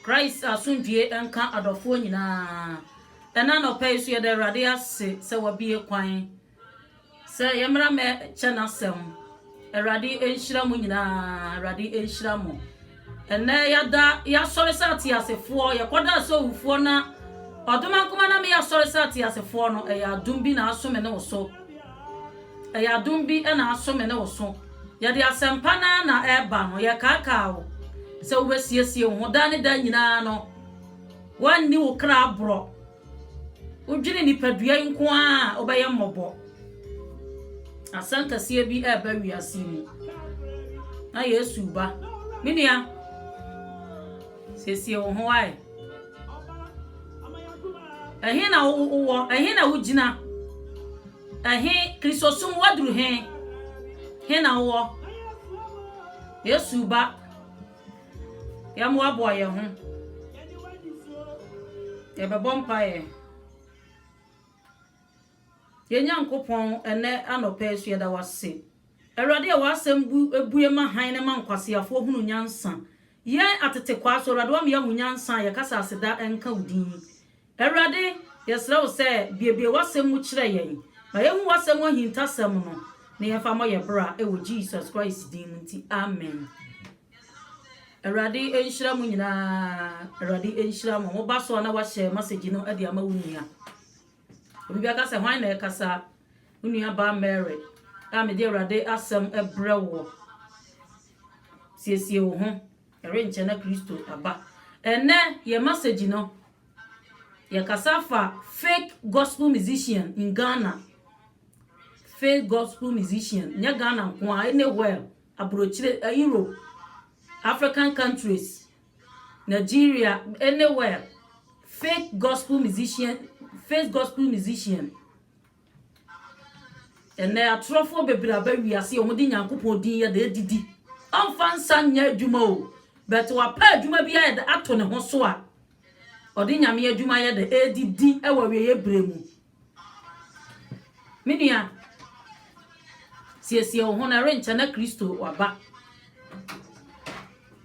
Christ asomdwie nka adɔfoɔ nyinaa. Ɛna anɔpa yi nso yɛda Awurade ase sɛ wabue kwan sɛ yɛmmra mɛ kyɛ n'asɛm. Awurade nhyira mo nyinaa, Awurade nhyira mo. Ɛnɛ yɛada yɛasɔre sɛ ateasefoɔ, yɛkɔda sɛ owufoɔ na ɔdoma nkoma na meyɛ asɔre sɛ ateasefoɔ no, ɛyɛ adom bi na aso me ne wo so. Ɛyɛ adom bi na aso me ne wo so. Yɛde asɛmpa no ara na ɛreba no, yɛkaakaa wo sɛ wobɛsiesie wo ho. Daa ne daa nyinaa no, woanni wo kra aborɔ. Wodwene nipadua yi nko ara a wobɛyɛ mmɔbɔ. Asɛm kɛseɛ bi ɛreba wiase mu. Na Yesu ba. Me nua. Siesie wo ho ae. Ɛhe na wowɔ? Ɛhe na wogyina? Ɛhe Kristosom waduru he? He na wowɔ? Yesu ba. Yɛmmoaboa yɛn ho. Yɛbɛbɔ mpaeɛ. Yɛn Nyankopɔn, ɛnnɛ anɔpa yi nso yɛda wo ase, Awurade, a w'asɛm bu bue ma hann na ɛma nkwaseafoɔ hunu nyansa. Yɛn atetekwaa nso, Awurade, woama yɛahu nyansa a yɛka sɛ aseda nka wo din. Awurade, yɛsrɛ wo sɛ buebue w'asɛm mu kyerɛ yɛn. Ma yɛnhu w'asɛm mu ahintasɛm no na yɛmfa mmɔ yɛn bra wɔ Jesus Christ din mu nti, amen. Awurade nhyira mo nyinaa. Awurade nhyira mo. Mo ba so a na wahyɛ masegyi no de ama wo nua. Obi bɛka sɛ, Hwan na ɛrekasa? Wo nuabaa Mary a mede Awurade asɛm brɛ woɔ. Siesie wo ho. Ɛrenkyɛ na Kristo aba. Ɛnnɛ, yɛn masɛgyi no, yɛkasa fa fake gospel musician in Ghana. Fake gospel musician. Nyɛ Ghana nko a, anywhere, aburokyire, eh, Europe, African countries, Nigeria anywhere fake gospel musician fake gospel musician ɛnɛ atorɔfoɔ bebree aba wiase a wɔde nyankopɔn din yɛ de adidi ɔmfa nsa nyɛ adwuma o bɛte wapɛ adwuma bi ayɛ de ato ne ho so a ɔde nyame adwuma yɛ de adidi wɔ awieɛ berɛ mu Me nua, siesie wo ho na ɛrenkyɛ na Kristo waba.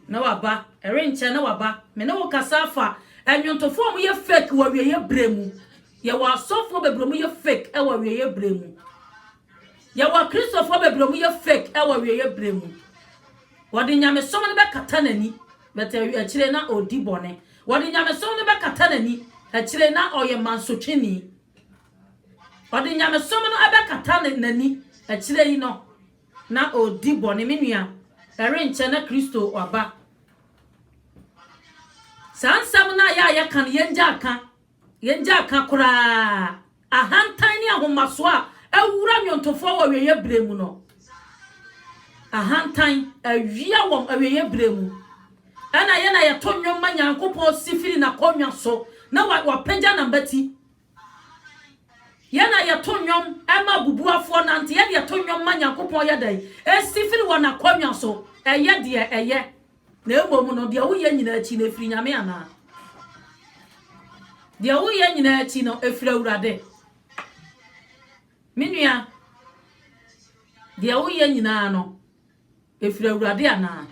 Na waba, ɛrenkyɛ na waba. Me ne wo kasa afa ɛnwontofo a wɔyɛ fake wɔ awieeɛ berɛ mu. Yɛwɔ asɔfoɔ bebree wɔyɛ fake wɔ awieeɛ berɛ mu. Yɛwɔ Kristofo bebree a wɔyɛ fake wɔ awieeɛ berɛ mu. Wɔde nyamesom no bɛkata n'ani, but akyire na ɔredi bɔne. Wɔde nyamesom no bɛkata n'ani, akyire na ɔyɛ mansotwini. Ɔde nyamesom no bɛkata n'ani, akyire yi no na ɔredi bɔne. Me nua, ɛrenkyɛ na Kristo aba. Saa nsɛm no a yɛ a yɛka no, yɛngyaa ka. Yɛngyaa ka koraa ahantan ne ahomasoɔ a awura nnwontofoɔ wɔ awieeɛ berɛ mu no. Ahantan awia wɔn awieeɛ berɛ mu. Ɛna yɛ na yɛto nnwom ma Nyankopɔn si firi n'akonnwa so na wapagya n'abati. Yɛ na yɛto nnwom ma abubuafoɔ nante. Yɛ deɛ to nnwom ma Nyankopɔn yɛ dɛn? Ɛsi firi wɔn akonnwa so. Ɛyɛ deɛ ɛyɛ. Na mmom no, deɛ woyɛ nyinaa akyi no, ɛfiri Nyame anaa? Deɛ woyɛ nyinaa akyi no, ɛfiri Awurade. Me nua, deɛ woyɛ nyinaa no, ɛfiri Awurade anaa?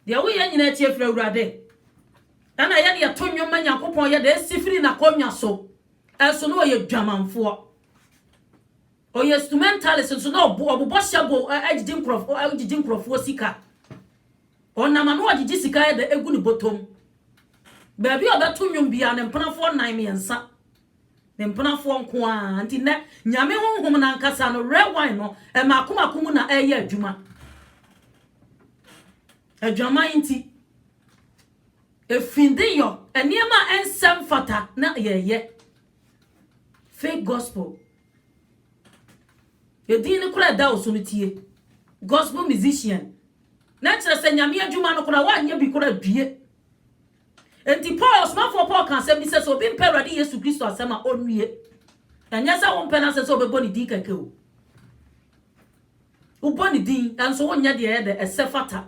Deɛ woyɛ nyinaa akyi ɛfiri Awurade. Ɛna yɛde ɛto nnwom ma Nyankopɔn yɛde ɛsi firi n'akonnwa so. Ɛso na ɔyɛ dwamanfoɔ. Ɔyɛ stumentalist nso na ɔbobɔ hyɛgo gyigye nkurɔfo gyigye nkurɔfoɔ sika. Ɔnam ano ɔgyegye sika ɛdɛ egu ne bɔtɔm. Baabi a ɔbɛto nnwom biara ne mpenafoɔ nnan mmiɛnsa ne mpenafoɔ nko ara nti nɛ nyame honhom no ankasa no red wine no mmaako mmaako mu na ɛyɛ adwuma. Adwaman nti efindeyɔ nneɛma a ɛnsɛ mfata na yɛyɛ. Fake gospel. Edin no koraa ɛda wo so no tie. Gospel musician. Na kyerɛ sɛ nyame adwuma no koraa woanyɛ bi koraa due. Enti Paul ɔsomafoɔ Paul ka asɛm bi sɛ sɛ obi mpɛ Awurade Yesu Kristo asɛm a ɔnwie. Ɛnyɛ sɛ wompɛ no asɛ sɛ wobɛbɔ ne din kɛkɛ o. Wobɔ ne din nso wonyɛ deɛ ɛyɛ dɛ ɛsɛ fata.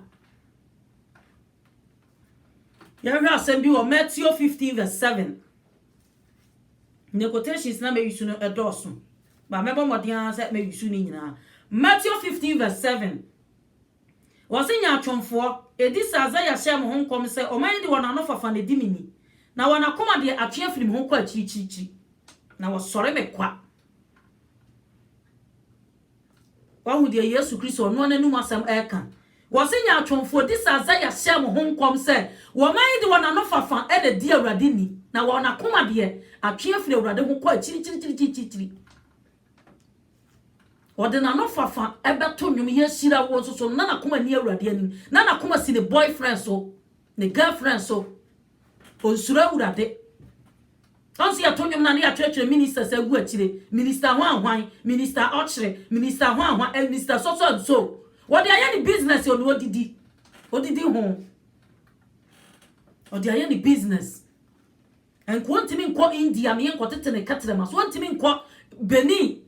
Yɛnhwɛ asɛm bi wɔ Matthew 15 verse 7. Ne quotations na me use no ɛdɔɔ so but mɛbɔ mmɔden ara sɛ mɛ use ne nyinaa Matthew 15 verse 7 wɔse nyaatwomfoɔ ɛdi sɛ Isaiah hyɛɛ mo ho nkɔm sɛ wɔn ayɛ de wɔn ano fafa na ɛdi me ni na wɔn akoma deɛ atwe afiri me ho kɔ akyirikyirikyiri na wɔsɔre me kwa. Wahu deɛ Yesu Kristo ɔno n'anom asɛm reka. Wɔse nyaatwomfoɔ di saa sɛ yɛahyɛ mo ho nkɔm sɛ wɔma yi de wɔn ano fafa na edi Awurade ni, na wɔn akoma deɛ, atwe afiri Awurade ho kɔ akyirikyirikyirikyirikyiri. Ɔde n'ano fafa bɛto nnwom, yɛahyira wo nso so no, na n'akoma ni Awurade anim, na n'akoma si ne boyfriend so, ne girlfriend so. Ɔnsuro Awurade. Nso yɛto nnwom no a na yɛakyerɛkyerɛ ministers agu akyire, Minister Hwan Hwan, Minister Ɔkyere, Minister Hwan Hwan and Mister So So and So. Wɔde ayɛ ne business onua odidi, odidi ho. Ɔde ayɛ ne business. Nka ɔntumi nkɔ India ne yɛnkɔtete ne kɛtrɛma so, ɔntumi nkɔ Benin.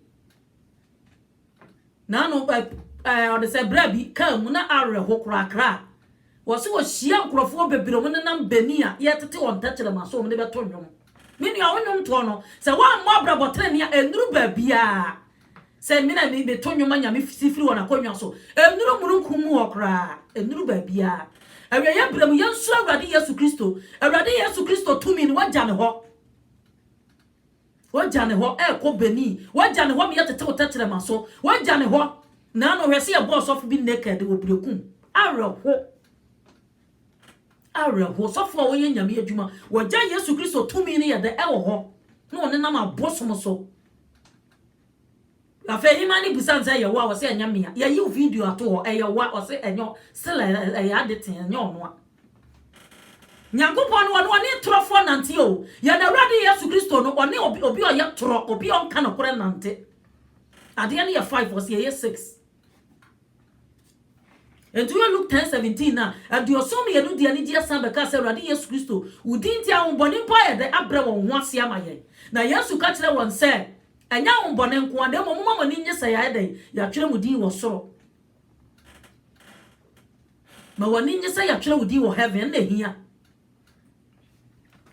N'ano ɛ ɛɛ ɔde sɛ berɛ bi kaa mu na awerɛho korakra a, wɔse wɔhyia nkurɔfoɔ bebree wɔn nenam Benin a yɛretete wɔn tɛkyerɛma so wɔn de bɛto nnwom. Me nua wo nnwom toɔ no sɛ woammɔ abrabɔ tenenee a ɛnnuru baabiara. Sɛ me na me meto nnwom ma Nyame si firi wɔn akonnwa so ɛnnuru mununkum mu hɔ koraa ɛnnuru baabiara. Awieɛ berɛ mu yɛnsuro Awurade Yesu Kristo. Awurade Yesu Kristo tumi no wagya ne hɔ. Wagya ne hɔ rekɔ Benin. Wagya ne hɔ meyɛ tete wo tɛkyerɛma so. Wagya ne hɔ naano hwɛ sɛ yɛbɔ ɔsɔfo bi naked wɔ Berekum. Awerɛho. Awerɛho. Sɔfo a ɔyɛ Nyame adwuma. Wagya Yesu Kristo tumi no yɛ dɛ ɛwɔ hɔ na ɔnenam abosom so. Afei hemaa no bisa no sɛ ɛyɛ wo a, ɔse ɛnyɛ me a, yɛayi wo video ato hɔ, ɛyɛ wo a, ɔse ɛnyɛ wo, still ɛyɛ ade tee, ɛnyɛ ɔno a. Nyankopɔn no ɔno ɔne torɔfoɔ nante o, yɛn Awurade Yesu Kristo no ɔne obi obi ɔyɛ torɔ, obi ɔnka nokorɛ nante. Adeɛ no yɛ five, ɔse ɛyɛ six. Enti woyɛ Luke ten seventeen no a, aduɔson mmienu de anigyeɛ san bɛkaa sɛ, Awurade Yesu Kristo, wo din nti ahohommɔne mpo ayɛ dɛ abrɛ wɔn ho ase ama yɛn. Na Yesu ka kyerɛɛ wɔn sɛ, Ɛnyɛ ahohommɔne nko ara, na mmom momma mo ani nnye sɛ yɛayɛ dɛn? Yɛatwerɛ mo din wɔ soro. Ma w'ani nnye sɛ yɛatwerɛ wo din wɔ heaven, ɛno na ɛhia.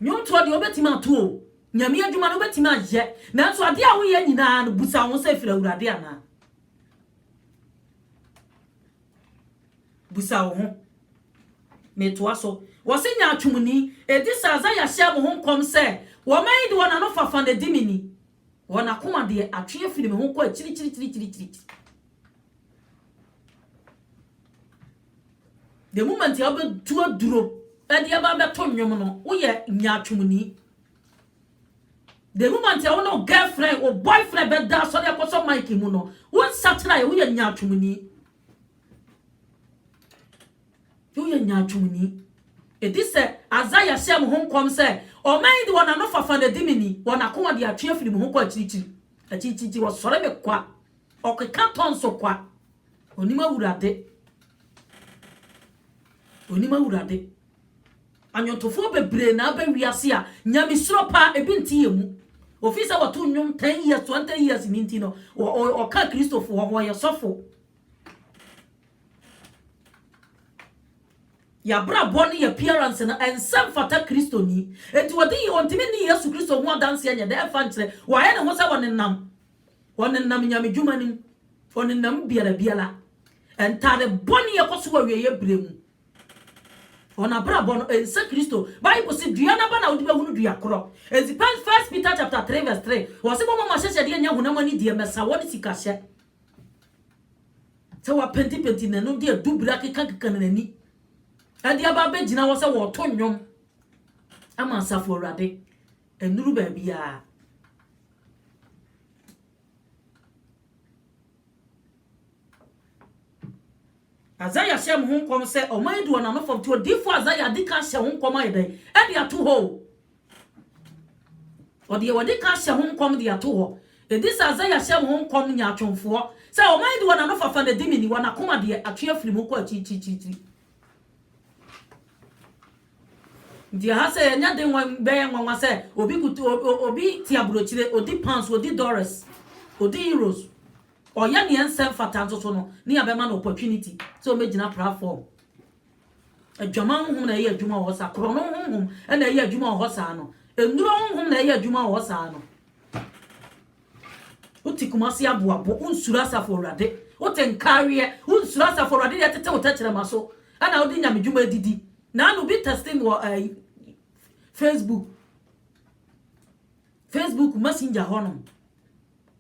Nnwomtoɔ deɛ wobɛtumi ato o, Nyame adwuma no wobɛtumi ayɛ, nanso adeɛ a woyɛ nyinaa no, busa wo ho sɛ ɛfiri Awurade anaa? Bisa wo ho. Metoa so. Wɔse nyaatwomni, edi sɛ Isaiah hyɛɛ mo ho nkɔm sɛ, Wɔman yi de wɔn anofafa na edi me ni, wɔn akoma deɛ, atwe afiri me ho kɔ akyirikyirikyirikyirikyiri. The moment a wobɛtu aduro de aba abɛto nnwom no, woyɛ nyaatwomni. The moment a wo ne wo girlfriend, wo boyfriend bɛda asɔre akɔsɔ mic mu no, wo nsakyera yɛ woyɛ nyaatwomni. Woyɛ nyaatwomni. Ɛdi sɛ Isaiah hyɛɛ mo ho nkɔm sɛ, ɔman yi de wɔn ano fafa na ɛdi me ni, wɔn akoma de atwe afiri me ho kɔ akyirikyiri. Akyirikyiri wɔsɔre me kwa, ɔkeka tɔ nso kwa. Onim awurade. Onim awurade. Ɔnwontofoɔ bebree na aba wiase a nyamesuro pa bi nte yɛn mu. Ofiri sɛ wɔto nnwom ten years, twenty years no nti no, wɔka Kristofoɔ ho, wɔyɛ sɔfo. Yɛn abrabɔ ne yɛn appearance no, ɛnsɛ mfata Kristoni. Enti wɔde ɔntumi nni Yesu Kristo ho adanseɛ nyɛ dɛ, ɛmfa nkyerɛ. Wayɛ ne ho sɛ ɔnenam, ɔnenam nyamedwuma no mu, ɔnenam biara biara. Ntaade bɔne kɔ so wɔ awieeɛ berɛ mu. Wɔn abrabɔ no nsɛ Kristo. Bible se dua n'aba na wode bɛhunu dua korɔ. Enti First Peter chapter 3 verse 3, wɔse momma mo ahyɛhyɛdeɛ nyɛ honam ani deɛ, mmɛsawɔ ne sikahyɛ. Sɛ wɔapentipenti ne no de adubiri akekakeka ne n'ani de aba abɛgyina hɔ sɛ wɔreto nnwom ama asafo Awurade. Ɛnuru baabiara. Isaiah hyɛɛ mo ho nkɔm sɛ ɔman yi de wɔn ano fam nti odiifo Isaiah adi kan hyɛ ho nkɔm ayɛ dɛn ɛde ato hɔ o. Ɔde yɛ wɔde kan hyɛ ho nkɔm de ato hɔ. Edi sɛ Isaiah hyɛ mo ho nkɔm nyaatwomfoɔ sɛ ɔman yi de wɔn ano fafa na di me ni, wɔn akoma deɛ atwe afiri mu kɔ akyirikyirikyirikyiri. Nti ɛha sɛ yɛnyɛ den wɔ bɛyɛ nwanwa sɛ obi kut o o obi te aburokyire, odi pounds, odi dollars, odi euros, ɔyɛ nea ɛnsɛ mfata nso so no ne yɛbɛma no opportunity sɛ ɔmɛgyina platform. Adwaman honhom na ɛyɛ adwuma wɔ hɔ saa, korɔno honhom na ɛyɛ adwuma wɔ hɔ saa no, nnuro honhom na ɛyɛ adwuma wɔ hɔ saa no. Wote Kumasi aboabo, wonsuro Asafo Awurade. Wote Nkaareɛ, wonsuro Asafo Awurade deɛ ɛtete wo tɛkyerɛma so ɛna wode nyame dwuma adidi. Naanu obi testing wɔ ɛɛ eh, Facebook Facebook messenger hɔnom.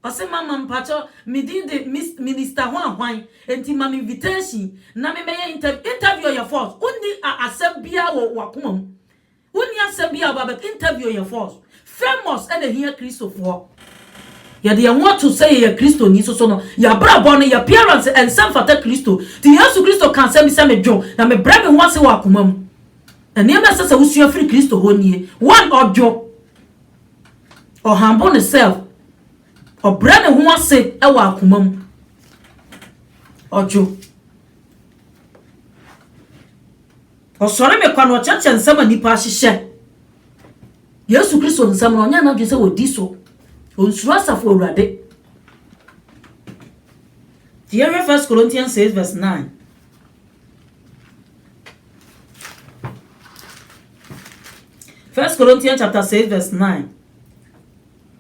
Ɔse mama mpakyɛ me din de Miss Minister ho ahwan enti ma me invitation na me mɛyɛ interview. Interview yɛ false. Wonni asɛm biara wɔ wakoma mu. Wonni asɛm biaa ɔba bɛka interview yɛ false famous ɛna ɛhia kristofoɔ yɛde yɛn ho ato sɛ yɛyɛ kristoni nso so no yɛabrabɔ no yɛ appearance ɛnsɛ mfata kristo nti yesu kristo ka asɛm bi sɛ me dwo na me brɛ me ho ase wɔ akoma mu nneɛma ɛsɛ sɛ wosua firi kristo hɔ nie one ɔdwo ɔhambo ne self ɔbrɛ ne ho ase wɔ akoma mu ɔdwo. Ɔsɔre me kwa na ɔkyerɛkyerɛ nsɛm a nnipa ahyehyɛ. Yesu Kristo nsɛm no, ɔnyɛ n'adwene sɛ wɔdi so. Ɔnsuro Asafo Awurade. Nti yɛhwɛ 1 Corinthians 6 verse 9. First Corinthians chapter 6 verse 9.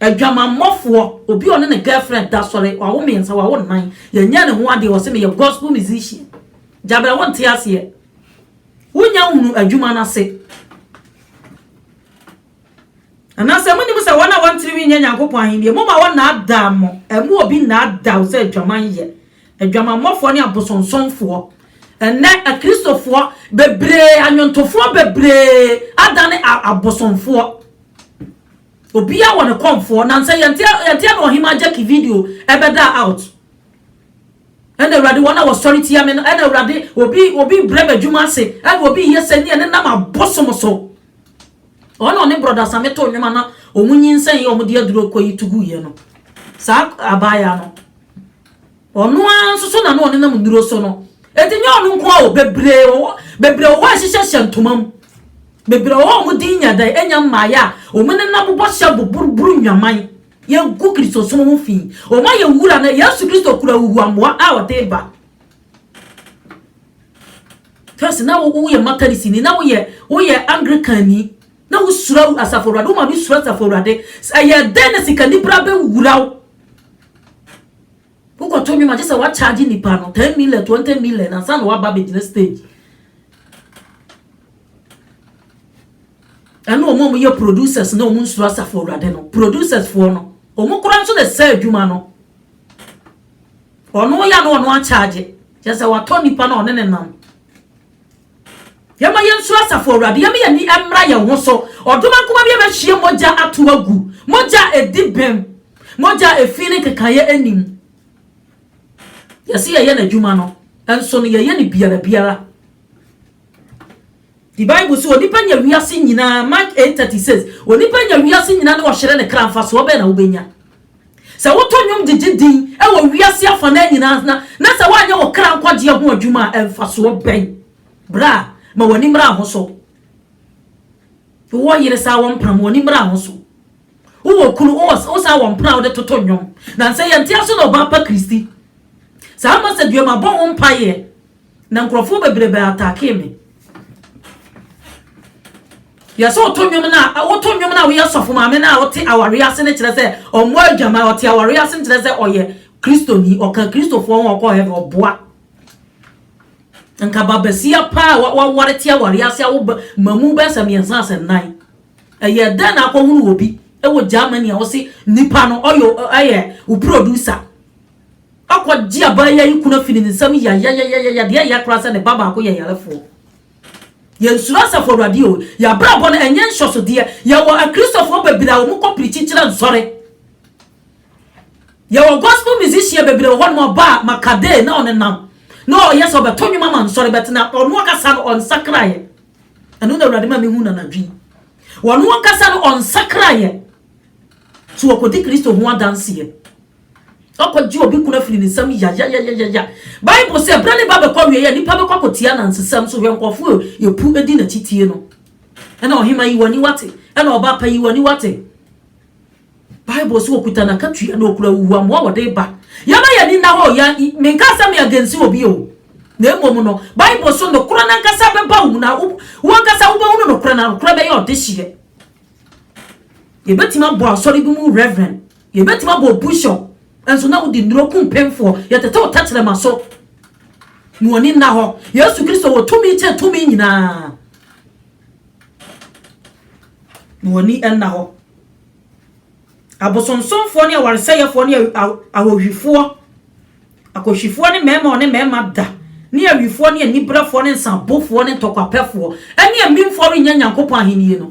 Adwamammɔfoɔ, obi a ɔne ne girlfriend da sɔre, wawo mmiɛnsa, wawo nnan, yɛnyɛɛ ne ho adeɛ, ɔse meyɛ gospel musician. Gyabɛ wonte aseɛ. Wonya hunu adwuma no ase. Anaasɛ monim sɛ wɔn a wɔn tirinwi nyɛ Nyankopɔn ahennie, moma wɔnnaadaa mo, ɛmu obi nnaadaa wo sɛ adwaman yɛ. Adwamammɔfoɔ ne abosonsomfoɔ. Ɛnnɛ akristofoɔ bebree, anwontofoɔ bebree adane abosomfoɔ. Obiaa wɔ ne kɔmfoɔ nansɛ yɛnteɛ yɛnteɛ na ɔhemaa Jackie video ɛbɛdaa out ɛna awurade wɔn a wɔsɔre tia me no ɛna awurade obi obi brɛ me adwuma ase ɛna obi yɛ sɛ neɛ ne nam abosom so ɔna ɔne brɔda same to nnwoma na ɔmu nyinsɛn yɛ ɔmo de aduro kɔ yi tugu yɛ no saa abaayaa no Ɔno ara nso so na na ɔnenam nnuro so no. Enti nyɛ ɔno nko ara o, bebree wɔ hɔ, bebree wɔ hɔ a ɛhyehyɛ hyɛ ntoma mu. Bebree wɔ hɔ a wɔn din nya dɛ, anya mmaeɛ a wɔnenam bɔhyɛ boboroboro nnwaman, yɛgu Kristosom ho fi. Wɔayɛ wura na Yesu Kristo kura huhuamoa a ɔde ba. First na wo woyɛ Methodistni, na woyɛ woyɛ Anglicanni, na wosuro Asafo Awurade, wo maame suro Asafo Awurade. Ɛyɛ dɛn na sikanibra bɛwura wo? Wokɔto nnwom a, gye sɛ wɔakyagye nnipa no ten million, twenty million ansa na wɔaba abɛgyina stage. Ɛne wɔn a wɔyɛ producers na wɔn nsuro asafo awurade no. Producers foɔ no, wɔn koraa nso na ɛsɛ adwuma no. Ɔno ya na ɔno akyagye. Kyerɛ sɛ watɔ nnipa na ɔne ne nam. Yɛma yɛnsuro Asafo Awurade. Yɛma yɛn ani mmra yɛn ho so. Ɔdom ankoma bi abɛhwie mogya ato agu. Mogya a edi bem. Mogya a efi ne nkekaeɛ nni mu. Yɛse yɛyɛ N'adwuma no, nso no yɛyɛ no biara biara. The Bible se onipa nya wiase nyinaa, Mark eight thirty six, onipa nya wiase nyinaa na ɔhyere ne kra, mfasoɔ bɛn na wobɛnya? Sɛ woto nnwom gyegye din wɔ wiase afanaa nyinaa na na sɛ woanyɛ wo kra nkwagyeɛ ho adwuma a, mfasoɔ bɛn? Bra, ma w'ani mmra ho so. Wowɔ yere saa wɔmpam, w'ani mmra ho so. Wowɔ kunu, wowɔ wo saa wɔmpra a wode toto nnwom. Nansɛ yɛnte ase na ɔbaa pa Kristi. Saa message wei mabɔ ho mpaeɛ. Na nkurɔfoɔ bebrebe attackee me. Yɛ sɛ ɔtɔ nnwom no a wotɔ nnwom no a woyɛ sɔfo maame no a ɔte awareɛ ase no kyerɛ sɛ ɔmmɔ adwaman ɔte awareɛ ase no kyerɛ sɛ ɔyɛ kristoni ɔka kristofoɔ ho ɔkɔ heaven ɔboa nka babasia paa waware te awareɛ ase a woba mamu bɛɛ sɛ mmiɛnsa sɛ nnan ɛyɛ dɛn na akɔhunu wɔ bi ɛwɔ Germany a ɔse nipa no ɔyɛ ɛyɛ wo producer Akɔgye abaayewa yi kunu afi ne nsam yayayayaya, deɛ ɛyɛ koraa sɛ ne ba baako yɛ yarefoɔ. Yɛnsuro Asafo Awurade o, yɛn abrabɔ no ɛnyɛ nsɔsodeɛ, yɛwɔ Akristofoɔ bebree a wɔkɔ pirikyi kyerɛ nsɔre. Yɛwɔ gospel musician bebree wɔ hɔnom a ɔba a Makadee na ɔnenam na ɔyɛ sɛ ɔbɛto nnwom ama nsɔre but na ɔno ankasa no ɔnsakraeɛ. Ɛno na Awurade ma mehu no anadwo yi. Ɔno ankasa no ɔnsakraeɛ. So wɔkɔdi Kristo ho adanseɛ? Ɔkɔgye obi kunu afiri ne nsam yayayayaya. Bible se bere ne ba bɛkɔ awieɛ a nnipa bɛkɔ akɔtia anansesɛm so hwɛ nkurɔfoɔ a yɛpu di n'akyi tie no. Ɛna ɔhema yi w'ani wate ɛna ɔbaa pa yi w'ani wate. Bible se ɔkuta n'akatua na ɔkura huhuamoa a ɔde ba. Yɛma yɛn ani nna hɔ yɛn i menkaa sɛ me against obi o na mmom no Bible so nokorɛ no ankasa bɛba wo mu na wo wo ankasa wobɛhunu nokorɛ na nokorɛ bɛyɛ ɔdehyeɛ. Yɛbɛtumi abɔ asɔre bi mu reverend. Yɛbɛtumi abɔ bushel nso na wode nnuro ku mpemfoɔ. Yɛtetew tɛkyerɛma so na wɔn ani nna hɔ. Yesu Kristo wɔ tumi kyɛn tumi nyinaa na wɔn ani nna hɔ. Abosonsomfoɔ ne awaresɛeɛfoɔ ne ahohwifoɔ, akɔhwifoɔ ne mmarima wɔne mmarima da, ne awifoɔ ne aniberefoɔ ne nsabofoɔ ne ntɔkwapɛfoɔ ne amimfoɔ rennya Nyankopɔn ahennie no.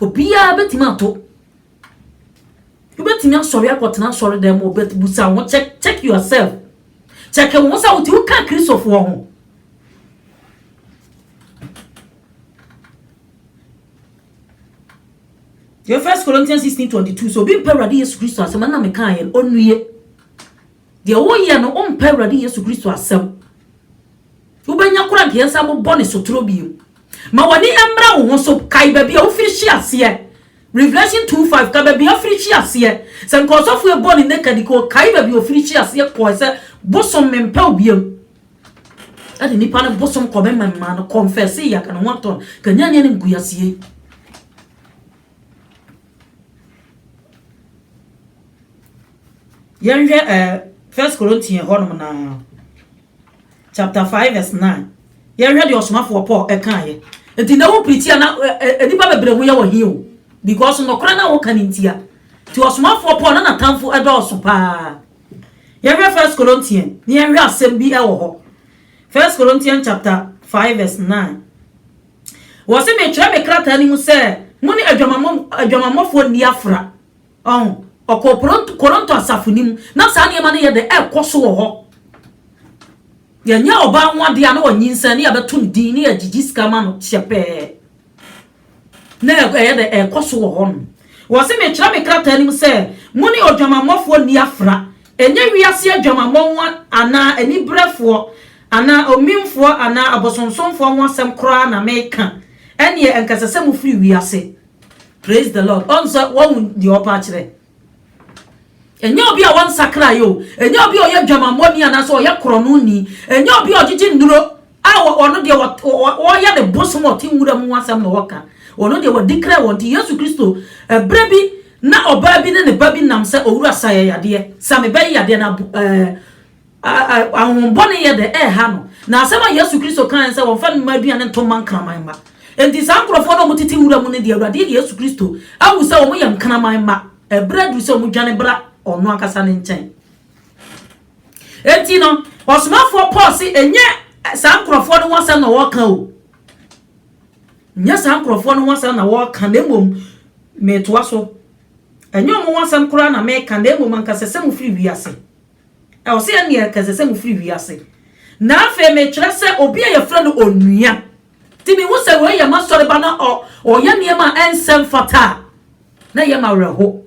Obiara bɛtumi ato. Wobɛtumi asɔre akɔtena asɔre dan mu but busa ho check check yourself. Check wo ho sɛ wote woka Kristofoɔ ho. Yɛ First Corinthians 16:22 so obi mpɛ Awurade Yesu Kristo asɛm ɛna meka yɛn ɔnue. Deɛ woyɛ no wompɛ Awurade Yesu Kristo asɛm. Wobɛnya koro a nka yɛnsan mmobɔ ne sotoro bio. Ma w'ani mmra wo ho so. Kae baabi a wofiri hye aseɛ. Revelation two five, Ka baabi a wofiri hye aseɛ. Sɛ nka ɔsɔfoɔ yi bɔɔ ne naked nka ɔkae baabi a ɔfiri hye aseɛ kɔɔe sɛ, Bosom mempɛ wo bio. Ɛde nnipa no bosom kɔmemɛmmaa no kɔnfɛsee yɛ ka ne ho atɔ no ka nya nyɛ ne nkuyaseɛ yi. Yɛnhwɛ ɛɛ First Corinthian hɔnom naa. chapter five verse nine. Yɛnhwɛ deɛ ɔsomafoɔ Paul kaeɛ. Nti na wo pirikyi a na nnipa bebree ho yɛ wɔ he o because nokorɛ na woka no ntia. Nti ɔsomafoɔ Paul na n'atamfo dɔɔso paa. Yɛnhwɛ First Corinthians na yɛnhwɛ asɛm bi wɔ hɔ. First Corinthians chapter five verse nine. Wɔsi metwerɛ me krataa no mu sɛ mo ne adwamammɔfoɔ nni afra. Ɔn, ɔkɔɔ Poronto, Koronto asafo no mu. Ná saa nneɛma no yɛ dɛ rekɔ so wɔ hɔ. Yɛnyɛ ɔbaa ho ade a na wanyinsɛn na yɛbɛto no din na yɛagyigye sika ama no hyɛpɛɛ. Ná ɛyɛ dɛ rekɔ so wɔ hɔnom. Wɔse mekyerɛ me krataa no mu sɛ, Mo ne odwamammɔfoɔ nni afra. Ɛnyɛ wiase adwamammɔ ho anaa aniberefoɔ anaa omimfoɔ anaa abosonsomfoɔ ho asɛm koraa na mereka. Ɛnneɛ anka ɛsɛ sɛ mofiri wiase. Praise the Lord. Ɔn sɛ wɔhu deɛ ɔpɛ akyerɛ. Ɛnyɛ obi a wɔnsakra yɛ o. Ɛnyɛ obi a ɔyɛ dwamammɔni anaasɛ ɔyɛ korɔnoni. Ɛnyɛ obi a ɔgyegye nnuro a ɔno deɛ wɔyɛ ne bosom ɔte nwura mu ho asɛm na ɔka. Ɔno deɛ wɔde kra wɔn ti. Yesu Kristo, ɛberɛ bi na ɔbaa bi ne ne ba bi nam sɛ, Owura, sa yɛ yadeɛ. Sa me ba yi yadeɛ na ɛɛ. Ahonhommɔne yɛ dɛ, ɛreha no. Na asɛm a Yesu Kristo kae ne sɛ, wɔmfa mma aduane nto mma nkraman mma. Enti saa nkurɔfoɔ no a wɔtete nwura mu no deɛ, Awurade Yesu Kristo ahu sɛ wɔyɛ nkraman mma. Ɛberɛ aduru sɛ wɔdwane bra ɔno ankasa ne nkyɛn. Enti no, ɔsomafoɔ Paul se, ɛnyɛ saa nkurɔfoɔ no ho asɛm na wɔreka o. Ɛnyɛ saa nkurɔfoɔ no ho asɛm na wɔreka, na mmom metoa so. Ɛnyɛ wɔn ho asɛm koraa na mereka, na mmom anka sɛ sɛ mofiri wiase. Ɛ, ɔse ɛneɛ nka ɛsɛ sɛ mo firi wiase. Na afei mekyerɛ sɛ obi a yɛfrɛ no Onua. Nti mehu sɛ wei yɛ m'asɔreba na ɔ, ɔyɛ nneɛma a ɛnsɛ mfata a, na ɛyɛ m'awerɛho.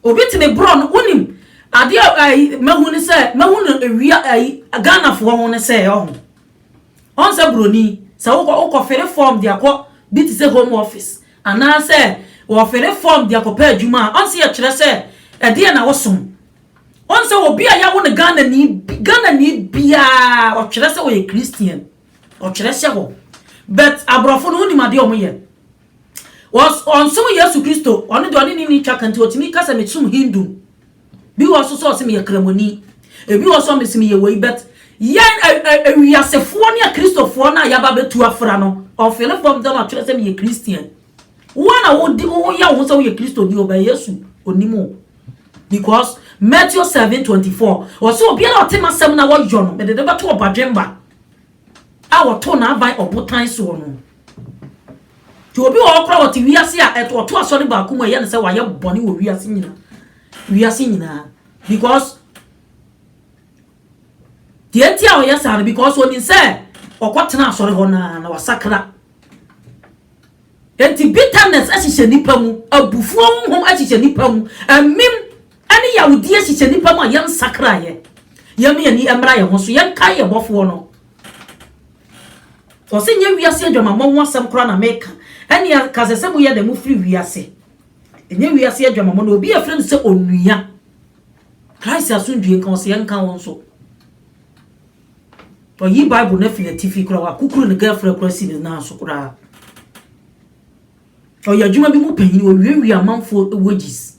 Obi te me borɔ no, wonim, adeɛ a ayi, mahu ne sɛ, mahu no wia, ayi, Ghanafoɔ ho ne sɛ, ɔho, ɔn sɛ buroni, sɛ wokɔ, wokɔ fere form de akɔ bi te sɛ Home Office, Anaasɛ wɔfere fam de akɔpɛ adwuma a, ɔnsɛ yɛkyerɛ sɛ ɛdeɛn na wosom. Ɔnsɛ obi a yɛawo no Ghanani, Ghanani biara ɔtwerɛ sɛ ɔyɛ Christian. Ɔtwerɛ hyɛ hɔ. But aborɔfo no wonim adeɛ a wɔyɛ. Ɔs, ɔnsom Yesu Kristo. Ɔno deɛ ɔne ne nni twaka nti ɔtumi ka sɛ mesom Hindu. Bi wɔ hɔ so sɛ ɔse meyɛ kramoni. Ebi wɔ hɔ so a ɔse meyɛ wei but yɛn wiasefoɔ ne akristofoɔ no a yɛaba abɛtu afra no ɔfele form sɛ na ɔtwerɛ sɛ meyɛ Christian. Wo a na wodi woyɛ wo ho sɛ woyɛ Kristoni o but Yesu onim o. Because Matthew 7:24 ɔse obiara a ɔte m'asɛm na wɔyɔ no mede no bɛto ɔbadwemma. A wɔtoo n'aban ɔbotan soɔ no. Nti obi wɔ hɔ koraa ɔte wiase a ɔto asɔre baako mu a ɛyɛ no sɛ wayɛ bɔne wɔ wiase nyina wiase nyinaa because deɛ nti a ɔyɛ saa no because onim sɛ ɔkɔtena asɔre hɔ naa na wasakra nti bitterness ahyehyɛ nipa mu abufuo honhom ahyehyɛ nipa mu amim Ɛne yawdie hyehyɛ nnipa mu a yɛn nsakra yɛ. Yɛma yɛn ani mmra yɛn ho so, yɛn kae yɛn bɔfoɔ no. Ɔse nyɛ wiase adwamammɔ ho asɛm koraa na meka, ɛne a nka ɛsɛ sɛ moyɛ dɛn mofiri wiase. Ɛnyɛ wiase adwamammɔ na obi a yɛfrɛ no sɛ onua. Christ asomdwie nka wo, sɛ ɛnka wo nso. Wayi Bible no afi n'atifi koraa, wakukuru ne girlfriend koraa asi ne nan so koraa. Ɔyɛ adwuma bi mu panyin, owiawia amanfoɔ wages.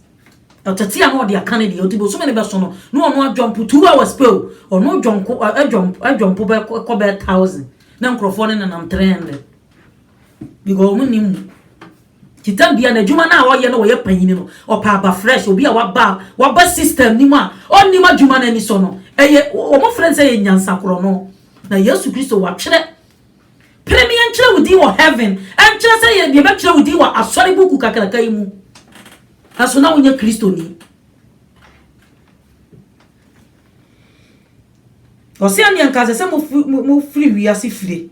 Ɔtete a na ɔde aka ne deɛ, ɔte bosome no bɛso no, na ɔno adwɔmpo two hours pɛ o, ɔno dwɔnko, adwɔmpo, adwɔmpo bɛkɔ bɛyɛ thousand, na nkurɔfoɔ no nenam three hundred. Because wɔn nim mu. Titam bia na adwuma no a ɔyɛ no ɔyɛ panyin no, ɔpɛ aba fresh, obi a waba, waba system no mu a, ɔnim adwuma no anisɔ no, ɛyɛ, wɔn frɛ no sɛ ɛyɛ nyansakorɔno. Na Yesu Kristo, watwerɛ Pere me yɛnkyerɛ wo din wɔ heaven, ɛnkyerɛ sɛ yɛ, yɛbɛkyerɛ wo din wɔ asɔre buku kakraka yi mu. Nanso na wonyɛ Kristoni. Ɔse ɛne anka sɛ sɛ mofiri wiase fire.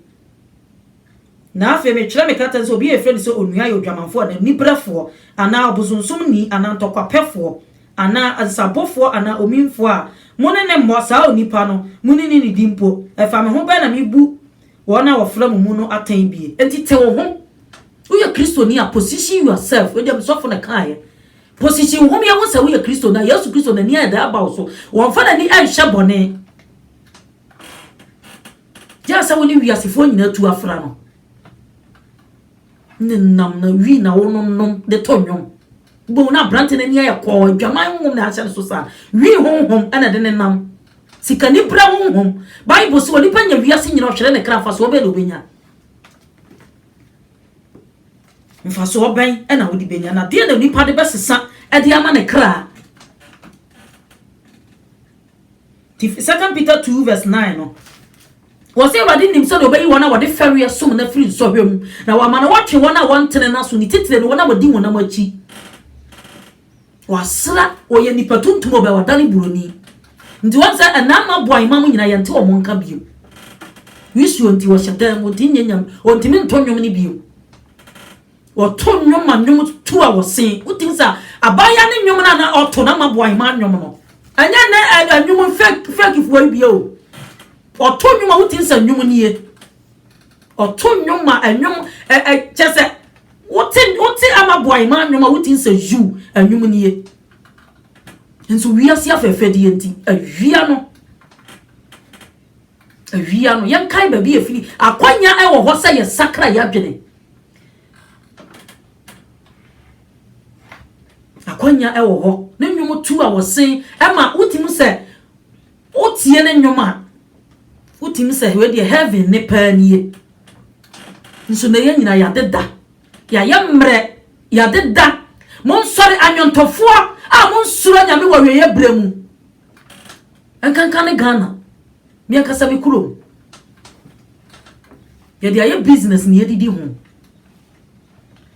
Na afei metwerɛ me krataa sɛ obi a yɛfrɛ no sɛ onua yɛ odwamanfoɔ anaa niberɛfoɔ anaa ɔbosonsomni anaa ntɔkwapɛfoɔ anaa asesabofoɔ anaa omimfoɔ a, mo ne no mmɔ, saa onipa no, monni no nidi mpo. Ɛfa me ho bɛn na mebu wɔn a wɔfra mo mu no atɛn bie? Enti te wo ho, woyɛ Kristoni a, position yourself, wei deɛ me sɔfo na ɛkaeɛ, position wo ho ma yɛhu sɛ woyɛ Kristoni a, Yesu Kristo n'ani ayɛ dɛ aba wo so, wɔmfa n'ani nhyɛ bɔne, gye sɛ wo ne wiasefoɔ nyinaa tu afra no. Nenam na wi na wononom de to nnwom. Boom na aberante no ani ayɛ kɔɔ, adwaman honhom na ahyɛ no so saa. Wi honhom na ɛde nenam. Sikanibra honhom. Bible se onipa nya wiase nyina ɔhwere ne kra mfasoɔ bɛn na ɔbɛnya? Mfasoɔ bɛn na wode bɛnya? Na deɛ na onipa de bɛsesa de ama ne kra? Second Peter 2 verse 9 no. Wɔse Awurade nim sɛdeɛ ɔbɛyi wɔn a wɔde fɛreɛ som no afiri nsɔhwɛ mu, na wama no watwe wɔn a wɔntene n'aso, ne titire no, wɔn a wɔdi honam akyi. Wasra, ɔyɛ nipa tuntum ɔbɛ, wadane buroni. Nti wɔn sɛ ɛna ama boa imam nyina yɛnte wɔn nka bio. Wisuo nti wɔhyɛ dan mu, ɔntimi nyɛ nyame, ɔntimi nto nnwom no bio. Wɔto nnwom ma nnwom tu a wɔse. Wotumi sɛ abaayewa ne nnwom no a na ɔto na ama boa hemaa nnwom no. Ɛnyɛ nnɛ ɛɛ nnwom fake fakefoɔ yi bie o. Ɔto nnwom a wotumi sɛ nnwom nie. Ɔto nnwom ma nnwom ɛ ɛ kyɛ sɛ wote wote ama boa hemaa nnwom a wotumi sɛ yu nnwom nie. Nso wiase afɛɛfɛdeɛ nti awia no. Awia no, yɛnkae baabi a efiri. Akwannya wɔ hɔ sɛ yɛsakra yɛn adwene. Akwannya wɔ hɔ. Ne nnwom tu a wɔsen ma wotumi sɛ wotie ne nnwom a, wotumi sɛ wei deɛ heaven ne paa nie. Nso na yɛn nyinaa yɛadeda. Yɛayɛ mmerɛ. Yɛadeda. Monsɔre anwontofoɔ a monsuro Nyame wɔ awieeɛ berɛ mu. Nkanka ne Ghana, me ankasa me kurom. Yɛde ayɛ business na yɛdidi ho.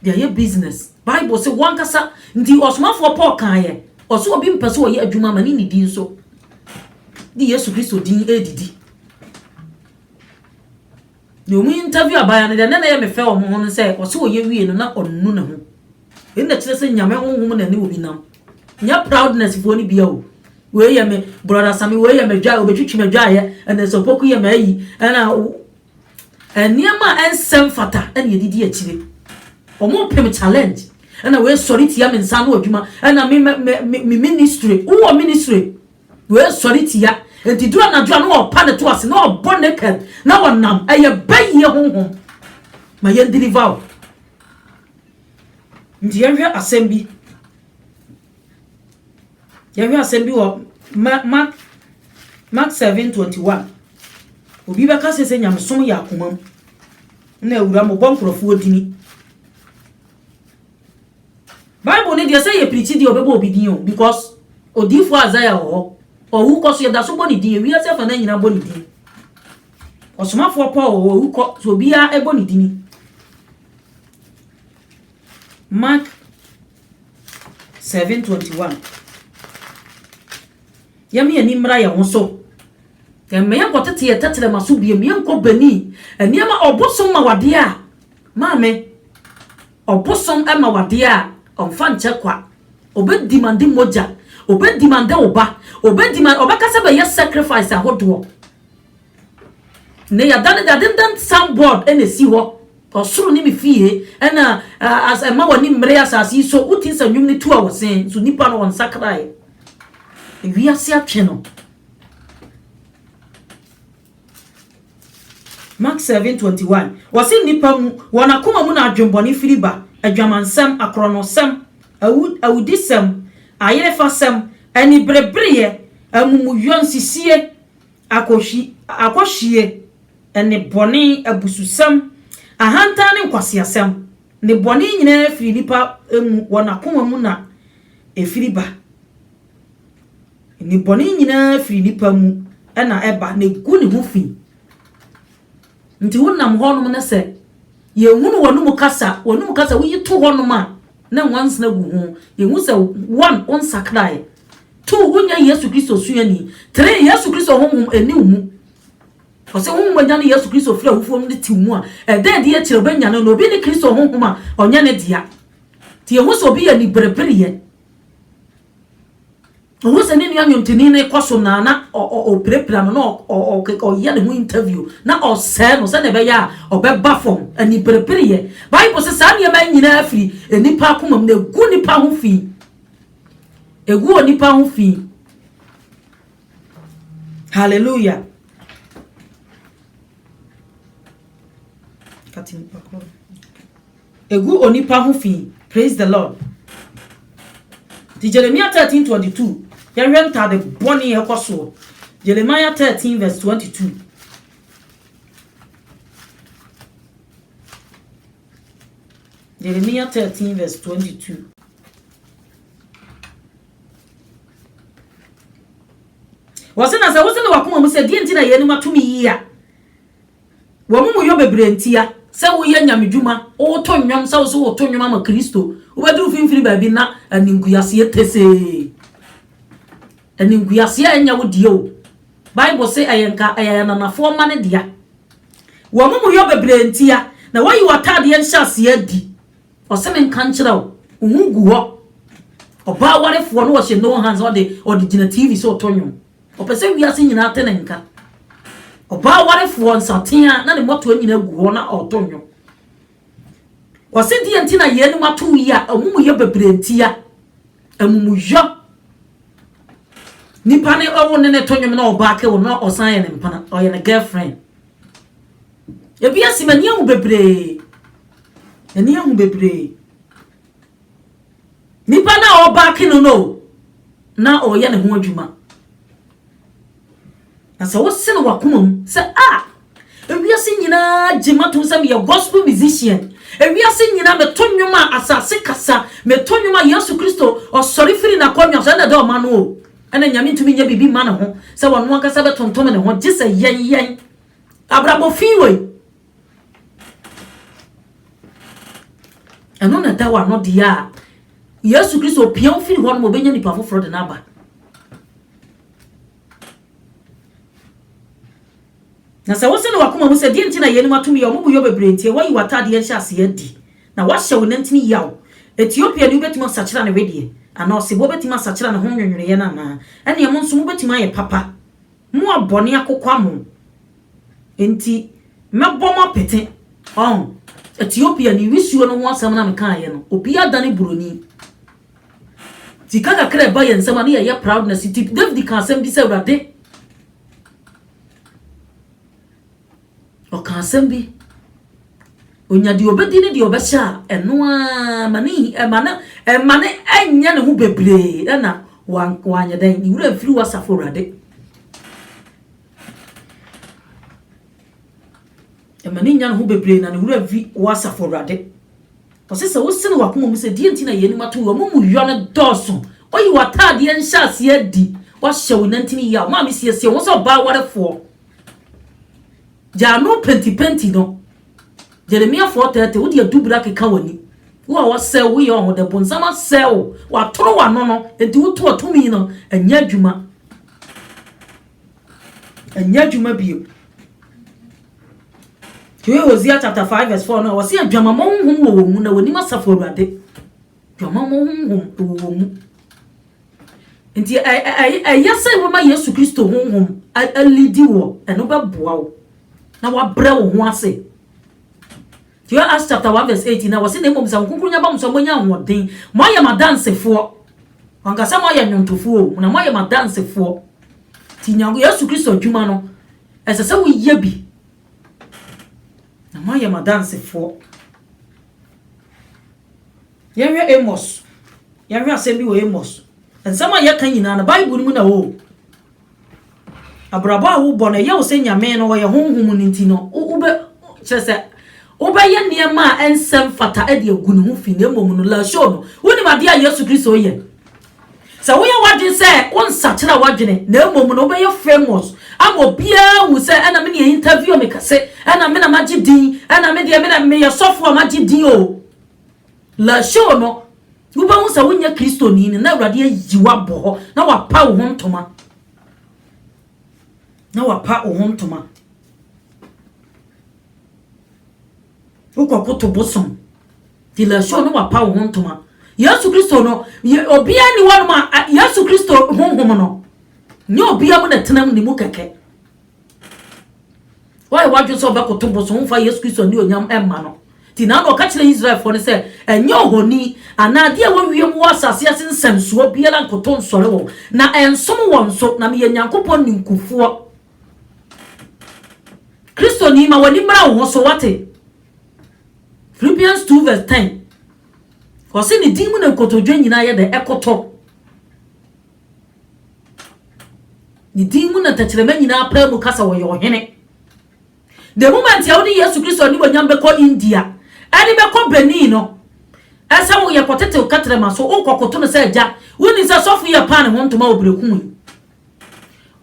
De ayɛ business. Bible se wankasa nti ɔsomafoɔ Paul kaeɛ. Ɔso obi mpɛ sɛ ɔyɛ adwuma ma ne ne din so. De Yesu Kristo din ɛredidi. Deɛ wɔn interview abaayewa no deɛ na ɛyɛ me fɛ wɔn ho no sɛ ɔsɛ ɔyɛ wie no na ɔnu ne ho. Ɛyi na kyerɛ sɛ nyame honhom na ɛne obi nam. Nyɛ proudness foɔ no bia o. Wei yɛ me brother sami wei yɛ me dwa obetwitwi me dwaeɛ ɛna sɛ opoku yɛ m'ayi ɛna nneɛma a ɛnsɛm fata ɛna ɛdidi akyire. Wɔn pem challenge ɛna wei sɔre tia me nsa ano adwuma ɛna me me me ministry wowɔ ministry Wei sɔre tia enti duru anadwo a na ɔpa ne to ase na ɔbɔ naked na ɔnam ɛyɛ bayie honhom ma yɛn deliver wo nti yɛn hwɛ asɛm bi yɛn hwɛ asɛm bi wɔ mark mark seven twenty one obi bɛka sɛ sɛ nyamesom yɛ akoma mu na awura mo bɔ nkurɔfoɔ dini Bible no deɛ sɛ yɛ pirikyi deɛ ɔbɛbɔ obi din o because odiifoɔ Isaiah wɔ hɔ ɔwu kɔ so yɛda so bɔ ne din ewiase afa no nyinaa bɔ ne din ɔsomafoɔ Paul wɔ hɔ ɔwu kɔ so obiara ɛbɔ ne din Mark 7:21 yɛma yɛn ani mmra yɛn ho so yɛmma yɛn nkɔ tete yɛ tɛtɛrɛma so biem yɛn nkɔ bani nneɛma ɔbosom ma wadeɛ a maame Ɔbosom ma wo adeɛ a, ɔmfa nkyɛ kwa. Ɔbɛ demande mogya, ɔbɛ demande wo ba, ɔbɛ demande, ɔbɛka sɛ bɛyɛ sacrifice ahodoɔ. Nnɛ yɛadane deɛ ade nnɛ sign board na ɛsi hɔ, ɔsoro ne me fie, ɛna as ɛma w'ani mmere asase yi so, wo tins a nnwom no tu a wɔ sɛn, nso nipa no ɔnsakraeɛ. Wiase atwe no. Mat. seven twenty one, Wɔse nnipa mu, wɔn akoma mu na adwenbɔne firi ba, adwamansɛm, akorɔnosɛm, awu, awudisɛm, ayerefasɛm, aniberebereyɛ, amumuyɔ, nsisie, akɔhwi, akɔhwie, nnebɔne, abususɛm, ahantan ne nkwaseasɛm, nnebɔne nyinaa firi nnipa mu, wɔn akoma mu na ɛfiri ba. Nnebɔne nyinaa firi nipa mu na ɛba na egu ne ho fi. Nti wonam hɔnom na sɛ yɛhunu w'anom kasa, w'anom kasa woyi to hɔnom a na nwansena gu ho, yɛhu sɛ one, wonsakraeɛ, two, wonyɛ Yesu Kristo suani, three, Yesu Kristo honhom ɛni wo mu. Ɔsɛ honhom agya no Yesu Kristo firi awufoɔ mu de te wo mu a, ɛda adi akyire wobɛnyane no. Obi ne Kristo honhom a, ɔnyɛ ne dea. Nti yɛhu sɛ obi yɛ aniberebereɛ. Ohun sɛ ne nua nnwontoni no rekɔ so na na ɔpirapira no, na ɔyɛ ne ho interview, na ɔresɛe no sɛnea ɛbɛyɛ a ɔbɛba fam. Aniperepereyɛ. Bible sɛ saa nneɛma yi nyinaa firi nnipa akomam na egu nnipa ho fi. Egu onipa ho fi. Hallelujah. Kati nipa koro. Egu onipa ho fi Praise the Lord Nti Jeremia thirteen twenty two yɛhwɛ ntade bɔne a ɛkɔ soɔ Jeremiah thirteen verse twenty two Jeremia thirteen verse twenty two. Wɔse na sɛ wose ne wakoma mu sɛ deɛ nti na yɛanim ato me yie a W'amumuyɔ bebree ntia, sɛ woyɛ nyamedwuma, woto nnwom, sɛ wo nso woto nnwom ama Kristo, wobɛduru mfimfini baabi na animguaseɛ tesee. Animguaseɛ a ɛnyɛ wo deɛ o. Bible se ɛyɛ nka ɛyɛ ananafoɔ mma no dea. W'amumuyɔ bebree ntia, na woayi w'ataadeɛ nhyɛaseɛ adi. Ɔse menka nkyerɛ wo, wo ho gu hɔ. Ɔbaa warefoɔ no ɔhyɛ no hands ɔde ɔde gyina TV so reto nnwom. Ɔpɛ sɛ wiase nyinaa te ne nka. Ɔbaa warefoɔ nsateaa na ne mmɔtoa nyinaa gu hɔ na ɔreto nnwom. Wɔse deɛ nti na yeinom ato yi a amumuyɛ bebree ntia. Amumuyɔ. Nipa ne ɔwo ne ne to nnwom na ɔbaa ke wo na ɔsan yɛ ne mpena, ɔyɛ ne girlfriend. Ebi asi m'ani ahu bebree. M'ani ahu bebree. Nipa no a ɔbacke no no na ɔreyɛ ne ho adwuma. Na sɛ wose no wakoma mu sɛ ah ewiase nyinaa gye matom sɛ meyɛ gospel musician, ewiase nyinaa meto nnwom a asase kasa, meto nnwom a Yesu Kristo ɔsɔre firi n'akonnwa so ɛna ɛda ɔma no o. Ɛna Nyame ntumi nyɛ biribi mma ne ho sɛ ɔno ankasa bɛtontom ne ho gye sɛ yɛn yɛn abrabɔ fi wei. ɛno na ɛda w'ano deɛ a yesu kristo opia wo firi hɔ nom ɔbɛnya nipa foforɔ de no aba na sɛ wosɛ no wakoma mu sɛ deɛ nti na yɛnim atom yɛ ɔmo boyɔ bebree nti ɛwɔ yi w'ataadeɛ nhyɛ aseɛ adi na wahyɛ wo nantini yaw ethiopia ni wobɛtumi asakyera ne wedeɛ anaa ɔsebɔ wobɛtumi asakyera ne ho nwonwoneɛ no anaa ɛneɛ mo nso mobɛtumi ayɛ papa mo abɔne akokwa mo Enti mɛbɔ mo apete. Ɔn. Ethiopia ne wisuo no ho asɛm na mekaaeɛ no, obiara dane buroni. Sika kakra a ɛba yɛn nsam a na yɛyɛ proudness nti, David kaa asɛm bi sɛ, Awurade, ɔkaa asɛm bi, onya deɛ ɔbɛdi ne deɛ ɔbɛhyɛ a, ɛno ara ma ne ɛma ne ɛma ne ɛnyɛ ne ho bebree ɛna wanyɛ dɛn, ne werɛ mfiri w'asafo Awurade. Ɛma ne nya ne ho bebree na ne werɛ fi wo Asafo Awurade. Ɔse sɛ wose no wakoma mu sɛ deɛ nti na yeinom ato yɛ ɔmo mu yɔ no dɔɔso. Oyi w'ataadeɛ nhyɛaseɛ adi, wahyɛ wo nantini yaw, maame siesie wo ho sɛ ɔbaa warefoɔ. Gya ano pentipenti no. Jeremia 4:30 wode adubiri akeka w'ani. Wo a wɔsɛe wo yɛ ɔho dɛ, bonsam asɛe wo, watoro w'ano no, enti wotoa tumi no, ɛnyɛ adwuma. Ɛnyɛ adwuma bio. Hwɛ Hosea chapter 5 verse 4 no a wɔse adwamammɔ honhom wɔ wɔn mu na wɔnim asafo awurade. Adwamammɔ honhom wɔ wɔn mu. Nti ɛyɛ sɛ wɔma Yesu Kristo honhom alidi wɔ ɛno bɛboa wo na wabrɛ wo ho ase. Hwɛ Acts chapter one verse eighteen a wɔse na mmom sɛ Honhom Kronkron ba mo so a moanya ahoɔden, moayɛ m'adansefoɔ. Wanka sɛ moayɛ nnwontofoɔ o, na moayɛ m'adansefoɔ. Nti Nyank Yesu Kristo adwuma no, ɛsɛ sɛ woyɛ bi. Na moayɛ m'adansefoɔ. Yɛnhwɛ Amos. Yɛnhwɛ asɛm bi wɔ Amos. Nsɛm a yɛka nyinaa no, Bible no mu na ɛwɔ o. Abrabɔ a wobɔ no, ɛyɛ wo sɛ Nyame no ɔyɛ honhom no nti no, wobɛ, kyerɛ sɛ, wobɛyɛ nneɛma a ɛnsɛ mfata de agu ne ho fi, na mmom no, Lasho no, wonim adeɛ a Yesu Kristo yɛ. Sɛ woyɛ w'adwene sɛ wonsakyera w'adwene, na mmom no, wobɛyɛ famous, ama obiara ahu sɛ ɛna me na interview me kɛse, ɛna me na magye din, ɛna me deɛ me na meyɛ sɔfo a magye din o. La show no, wobɛhu sɛ wonyɛ Kristoni no, na Awurade ayi wo abɔ hɔ, na wapa wo ho ntoma. Na wapa wo ho ntoma. Wokɔkoto bosom. Ti la show no wapa wo ho ntoma. Yesu Kristo no, obiara ni hɔ nom a Yesu Kristo honhom no, nyɛ obiara mu na tenam ne mu kɛkɛ. Woayɛ w'adwene sɛ ɔbɛkoto bosom mfa Yesu Kristo anuonyam mma no. Nti na na ɔka kyerɛ Israelfoɔ no sɛ, Ɛnyɛ ohoni anaa adeɛ a ɛwɔ wiem wɔ asase ase nsɛmsoɔ biara nkoto nsɔre wɔn, na ɛnsom wɔn nso, na meyɛ Nyankopɔn ninkufoɔ. Kristoni, ma w'ani mmra wo ho so, woate? Philippians 2 vs 10 Ɔse ne din mu na nkotodwe nyinaa yɛ dɛ ɛkoto. Ne din mu na tɛkyerɛma nyinaa pae mu ka sɛ ɔyɛ Ɔhene. The moment a wode Yesu Kristo animuonyam bɛkɔ India ne bɛkɔ Benin no, ɛsɛ wo yɛ kɔtetew kɛtrɛma so, wokɔ koto no sɛ Agya, wonim sɛ sɔfo yi ɛpaa ne ho ntoma wɔ berekum yi.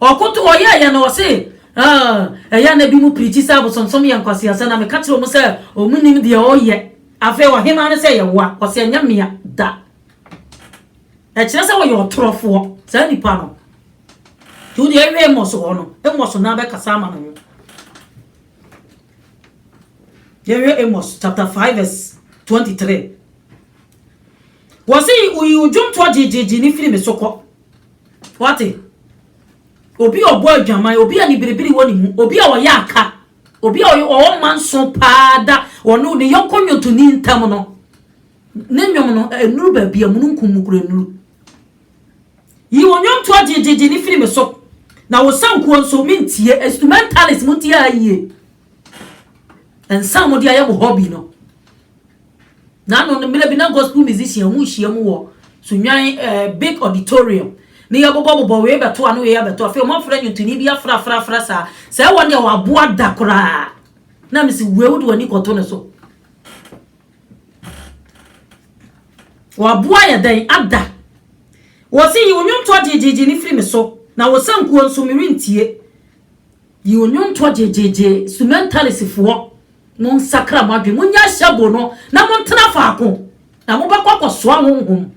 Ɔkoto ɔyɛ yɛ na ɔse, ah, ɛyɛ na bi mu pirikyi sɛ abosonsom yɛ nkwaseasɛ na meka kyerɛ wɔn sɛ wɔn nim deɛ ɔyɛ. Afei ɔhemaa no sɛ yɛwoa, ɔse ɛnyɛ mea da. Ɛkyerɛ sɛ wɔyɛ ɔtorofoɔ, saa nipa no. Nti wo deɛ ɛwɛ Amos hɔ no, Amos no ara bɛkasa ama ne ho. Yɛhwɛ Amos chapter 5 verse 23. Wɔse woyi wo dwomtoɔ gyegyeegye ne firi me so kɔ. Wate? Obi a ɔbɔ adwaman, obi a ne biribiri wɔ ne mu, obi a ɔyɛ aka, obi a ɔwɔ mma nso paa da ɔno ne yɔnko nnwontoni ntam no. Ne nnwom no, ɛnnuru baabi a mununkum mu kura nnuru. Yi wo nnwontoɔ gyegyeegye no firi me so, na wo sankuo nso, mentie. Instrumentalist, montie ha yie. Nsa a mode ayɛ mo hobby no, na ano no mmerɛ bi na gospel musician mu nhyia mu wɔ Sunnwan ɛɛ eh, big auditorium ne yɛbobɔbobɔ wei bɛto ano wei abɛto afei wɔn afra nnwontoni bi afra afra afra saa sɛ wɔn deɛ wɔaboa da koraa na mesi wei wode w'ani kɔto no so Wɔaboa yɛ dɛn ada? Wɔse, Yi wo nnwontoɔ gyegyeegye no firi me so, na wo sankuo nso, merentie. Yi wo nnwontoɔ gyegyeegye, Sumɛntalisifoɔ, monsakra mo adwene, monyɛ ahyɛbo no, na montena faako, na mobɛkɔ akɔsoa honhom.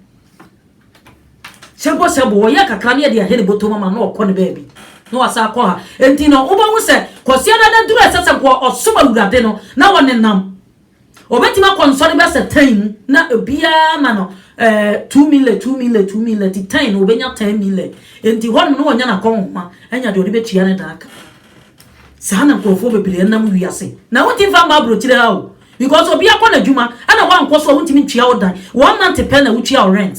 Hyɛbo hyɛbo, wɔyɛ kakra na yɛde ahye ne bɔtɔ mu ama no na ɔkɔ ne baabi, na wasan akɔ ha. Enti no, wobɛhu sɛ, Kwasiada no aduru a ɛsɛ sɛ nkoa ɔsom Awurade no, na wɔnenam. Obetumi akɔ nsɔre bɛsɛ tan mu na obiara ma no eh, two mile two mile two mile ti tan no obenya ten mile enti hɔnom no wɔnya n'akɔnhoma anya deɛ ɔde bɛtua ne dan ka saa na nkurɔfoɔ bebree nam wiase na wonti mfa mma aburokyire ha o because obi akɔ n'adwuma ɛna woankɔ so a wontumi ntua wo dan one month pɛ na wotua wo rent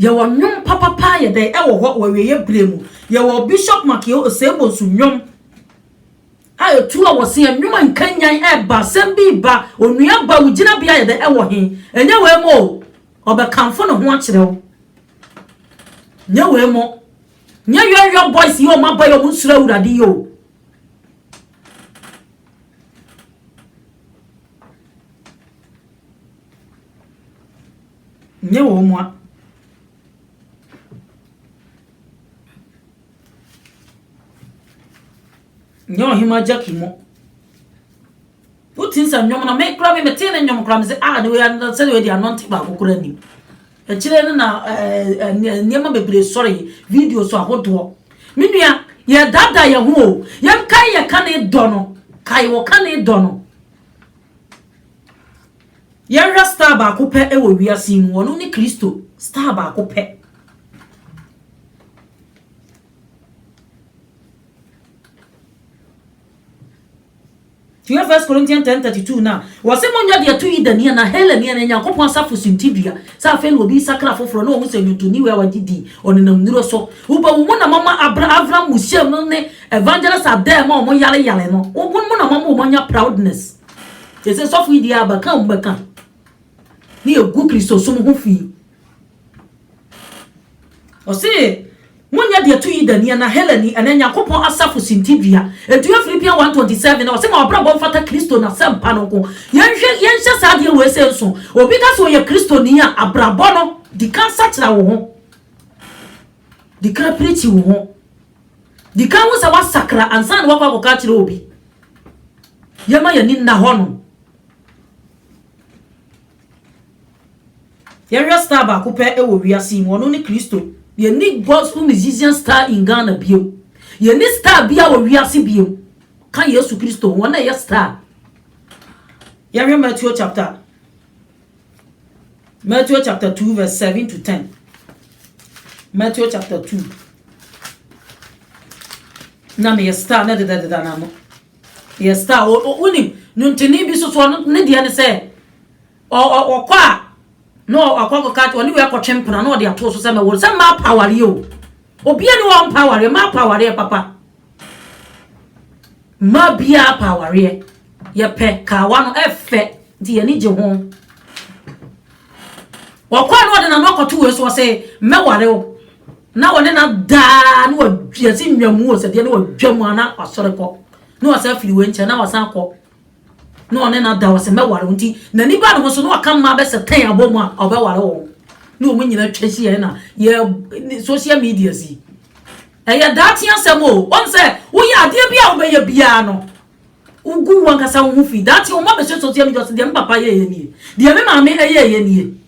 Yɛwɔ nnwom papa paa yɛ dɛn ɛwɔ hɔ wɔ awieeɛ berɛ mu. Yɛwɔ Bishop Makeo Osei-Bonsu nnwom a ɛtu a wɔse yɛ nnwom a nkanyan ɛba, asɛm bi reba, onua ba wo gyinabea yɛ dɛn ɛwɔ he? Ɛnyɛ wei mo o, ɔbɛkamfo ne ho akyerɛ wo. Nyɛ wei mo. Nyɛ yɔyɔ boys yi a wɔaba yi a wɔnsuro Awurade yi o. Nyɛ wɔn mu a. Nyɛ ɔhema Jackie mu. Wotim sɛ nnwom no me kora me metee ne nnwom kora me sɛ ah ne wei ano sɛ wei de anɔnte baako kora nim. Akyire no na eh, eh, nneɛma bebree sɔre videos ahodoɔ. Me nua yɛdada yɛn ho o yɛnkae yɛka ne dɔ no kae wɔka ne dɔ no. Yɛnhwɛ star baako pɛ wɔ wiase yi mu, ɔno ne Kristo, star baako pɛ. Tiɛ First Corinthians 10:32 na wɔse monyɛ deɛ ɛto Yudani anaa Helani anaa Nyankopɔn asafo suntidua sɛ afei na obi sakra foforɔ na ɔhu sɛ nnwontoni wei a wagye din ɔnenam nnuro so woba wo mu na mama abra Avram Museum no ne Evangelist Adair ma wɔn yaleyale no wo mu na mama wɔn anya proudness Te sɛ sɔfo yi deɛ abɛka a wɔbɛka ne yɛgu Kristosom ho fi. Ɔse, monyɛ deɛ to Yudani anaa Helani anaa Nyankopɔn asafo so hintidua. Nti yɛ Philippians 1:27 no, ɔse ma w'abrabɔ mfata Kristo n'asɛmpa no nko. Yɛnhwɛ, yɛnhyɛ saa adeɛ wei sei nso. Obi ka sɛ ɔyɛ Kristoni a, abrabɔ no, di kan sakyera wo ho. Di kan pirikyi wo ho. Di kan hu sɛ woasakra ansa na woakɔ akɔka akyerɛ obi. Yɛmma yɛn ani nna hɔnom. Yɛnhwɛ star baako pɛ wɔ wiase yi mu, ɔno ne Kristo. Yɛnni gospel musician star in Ghana bio. Yɛnni star biara wɔ wiase bio ka Yesu Kristo ho, ɔno na ɛyɛ star. Yɛnhwɛ Matthew chapter Matthew chapter 2 verse 7 to 10. Matthew chapter 2. Na meyɛ star na dedadeda na no. Yɛ star wonim nwontoni bi so so ɔno ne deɛ ne sɛ ɔkɔ a na ɔkɔ kɔka ɔne wei akɔtwe mpena na ɔde ato so sɛ mɛwɔ sɛ mmaa pa awareɛ o. Obia ni hɔ a ɔmpa awareɛ. Mmaa pɛ awareɛ papa. Mmaa biaa pɛ awareɛ. Yɛpɛ kaawa no ɛfɛ nti yɛni gye ho. Ɔkɔɛ na ɔde nano akɔto wei so ɔse mɛware wo na wɔne no adaa na wɔasi nnwamu wɔ sɛdeɛ na wɔdwa mu a na wasɔre kɔ na wasan afiri wei nkyɛn na wasan akɔ na ɔne no ada hɔ sɛ mɛware wo nti n'ani ba ne ho so na ɔka mmaa bɛsɛ tɛn abɔ mu a ɔbɛware wɔn na wɔn nyinaa twa hyia na yɛ social media si ɛyɛ daakye asɛm o wɔn sɛ woyɛ adeɛ bi a wobɛyɛ biara no wogu wɔn kasa wo ho fi daakye wɔn abɛhyɛ social media so deɛ me papa yɛ yɛ nie deɛ me maame yɛ yɛ nie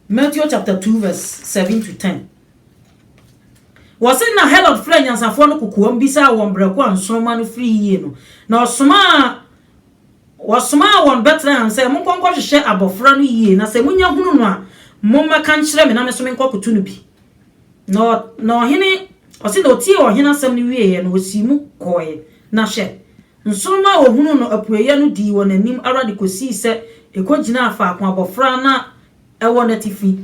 Matthew chapter two verse seven to ten. Wɔse na Herod frɛɛ nyansafoɔ no kokoam bisaa wɔn berɛko a nsoromma no firi yie no, na ɔsomaa wɔsomaa wɔn Betlehem sɛ, Monkɔ nkɔhwehwɛ abɔfra no yie, na sɛ monya hunu no a, mommɛka nkyerɛ me na me nso menkɔkoto no bi. Na, na ɔhene, ɔse na ɔtiee ɔhene asɛm no wieeɛ, na ɔsii mu kɔeɛ. Na hwɛ, Nsoromma a wɔhunuu no apueeɛ no dii wɔn anim ara de kɔsii sɛ ɛkɔgyinaa faako abɔfra no wɔ n'atifi.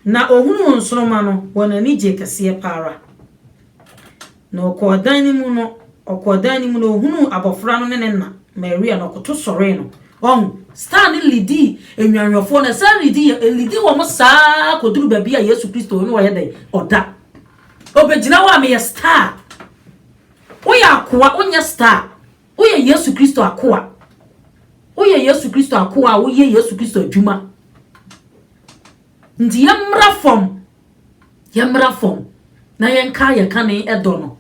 Na ɔhunuu nsoromma no, wɔn ani gyee kɛseɛ pa ara. Na ɔkɔɔ dan no mu no, ɔkɔɔ dan no mu na ɔhunuu abɔfra no ne ne na, Maria, na ɔkoto sɔree no. Wahu? Satan ne lidi nnwanhwɛfoɔ no, ɛsan lidi yɛn, ɛlidi wɔn saa ara kɔduru baabi a Yesu Kristo, ɔno ɔyɛ dɛn? Ɔda. Ɔbɛgyina hɔ a, meyɛ star. Woyɛ akoa, wonyɛ star. Woyɛ Yesu Kristo akoa. Woyɛ Yesu Kristo akoa a woyɛ Yesu Kristo adwuma. Nti yɛmmra fam, yɛmmra fam na yɛnka yɛ kane ɛdɔ no.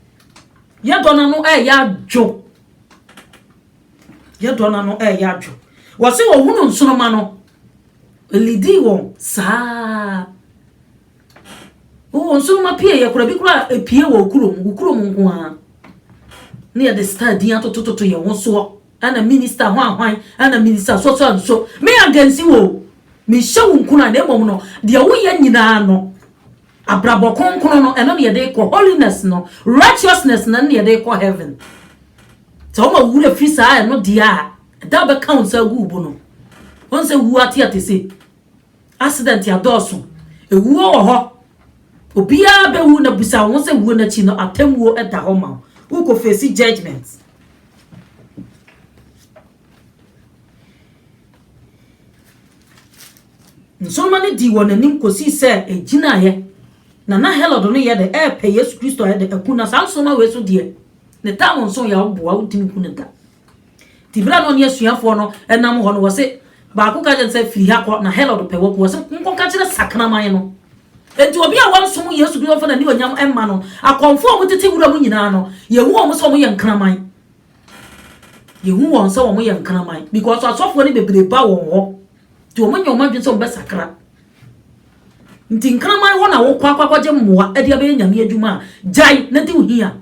Yɛdɔ no ano ɛyɛ adwo. Yɛdɔ no ano ɛyɛ adwo. Wɔse wɔhunu nsoroma no, ɛlidii wɔn saa. Wo nsoromma pieeɛ koraa, ebi koraa epie wɔ wo kurom, wo kurom nko ara. Ne yɛde star din atotototo yɛn ho soɔ. Ɛna minista hwan hwan, ɛna minista so so and so. Me against wo o. Menhyɛ wo nkuran na mmom no, deɛ woyɛ nyinaa no, abrabɔ kronkron no, ɛno na yɛde kɔ holiness no, righteousness no, ɛno na yɛde kɔ heaven. Sɛ woma wo werɛ firi saa ɛno deɛ a, ɛda a wobɛka wo nsa agu wo bo no, wohu sɛ wuo ateate sei. Accident adɔɔso, awuo wɔ hɔ, obiara bɛwu na busa wo ho sɛ wuo no akyi no atemmuo da hɔ ma wo, wokɔ face judgement. Nsoroma no dii wɔn anim kɔsii sɛ ɛgyinaeɛ, na na Herod no yɛ dɛ ɛrepɛ Yesu Kristo a yɛde aku no, saa nsoroma wei so deɛ ne tam nso yɛ a woboa wontumi hu no da. Nti berɛ a na ɔne asuafoɔ no nam hɔ no, wɔ se baako ka kyerɛ sɛ, firi ha kɔ, na Herod pɛ waku wɔ se, nkɔka kyerɛ sakraman no. Nti obi a wansom Yesu Kristo mfa n'animuonyam mma no, akɔmfoɔ a wɔtete wura mu nyinaa no, yɛhu wɔn sɛ wɔyɛ nkraman. Yɛhu wɔn sɛ wɔyɛ nkraman because asɔfoɔ no bebree ba wɔn hɔ, nti wɔn nyɛ wɔn adwene sɛ wɔbɛsakra. Nti nkraman hɔ na wokɔ akɔgye mmoa de abɛyɛ nyame adwuma a, gyae na di wo hia.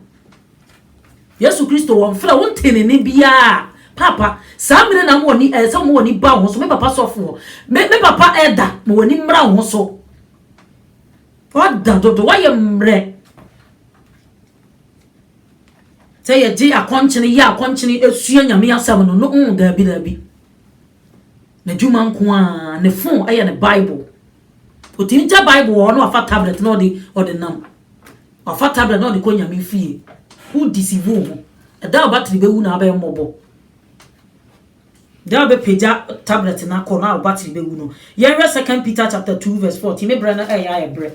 Yesu Kristo wɔ mfra wo ntene ne biaa papa saa mire na mo wani ɛɛ sɛ mo wani ba wo ho so me papa sɔfoɔ me me papa ɛda mo wani mmra wo ho so ɔda dodo wayɛ mmerɛ sɛ yɛgye akɔnkyene yɛ akɔnkyene esua nyame asɛm no no mm daabi daabi n'adwuma nko a ne fon ɛyɛ ne bible ɔtumi gya bible wɔ hɔ na wafa tablet na ɔde ɔde nam Ɔfata berɛ na ɔde kɔ Nyame fie. Wo deceive wo ho. Da a battery bɛwu na abɛyɛ mmɔbɔ. Da a wobɛpagya tablet no akɔ na wo battery bɛwu no. Yɛnhwɛ Second Peter chapter two verse fourteen. Me berɛ no ɛyɛ ayɛ berɛ.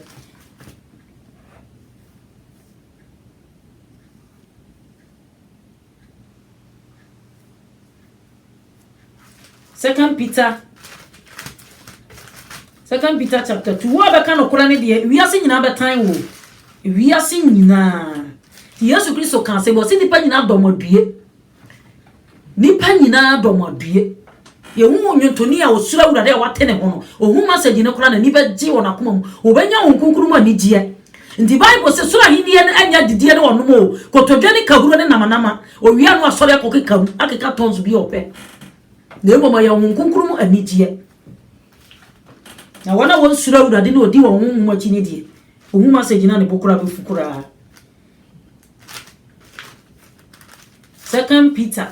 Second Peter Second Peter chapter 2 Wo a bɛka nokorɛ no deɛ wiase nyinaa bɛtan wo wiase nyinaa nti Yesu Kristo kaa sɛ wɔsi nipa nyinaa dɔm adue nipa nyinaa dɔm adue yɛhu nwontoni a ɔsuro awurade a wate ne ho no ɔhu masagyi no koraa n'ani bɛgye wɔ n'akoma mu wɔbɛnya wo nkonkuru mu anigyeɛ nti bible sɛ soro ahenniɛ no anya didiɛ ne ɔnom o kotodwe ne kahuro ne namanama Owia no asɔre akɔkeka mu akeka tons bi a ɔpɛ, na mmom ɔyɛ Honhom Kronkron mu anigyeɛ. Na wɔn a wɔnsuro Awurade na wɔdi wɔn honhom akyi no deɛ, ɔhu masɛgye no a ne bo koraa bɛfu koraa. Second Peter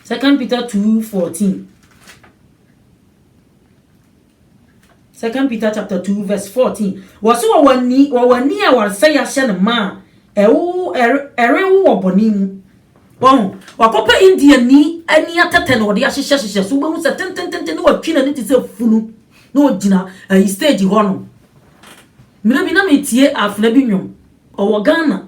Second Peter 2:14 Second Peter chapter two verse fourteen. Wɔsi wɔ wɔn ani wɔ wɔn ani a wɔresɛ yɛahyɛ no ma a ɛwo ɛre ɛrewo wɔ bɔne mu. Wɔn wakɔpɛ Indiani ani atɛtɛ na wɔde ahyehyɛ hyehyɛ so wobɛhu sɛ tentententen na watwi n'ani te sɛ funu na ogyina ayi stage hɔ no. Mmerɛ bi na metie afena bi nnwom ɔwɔ Ghana.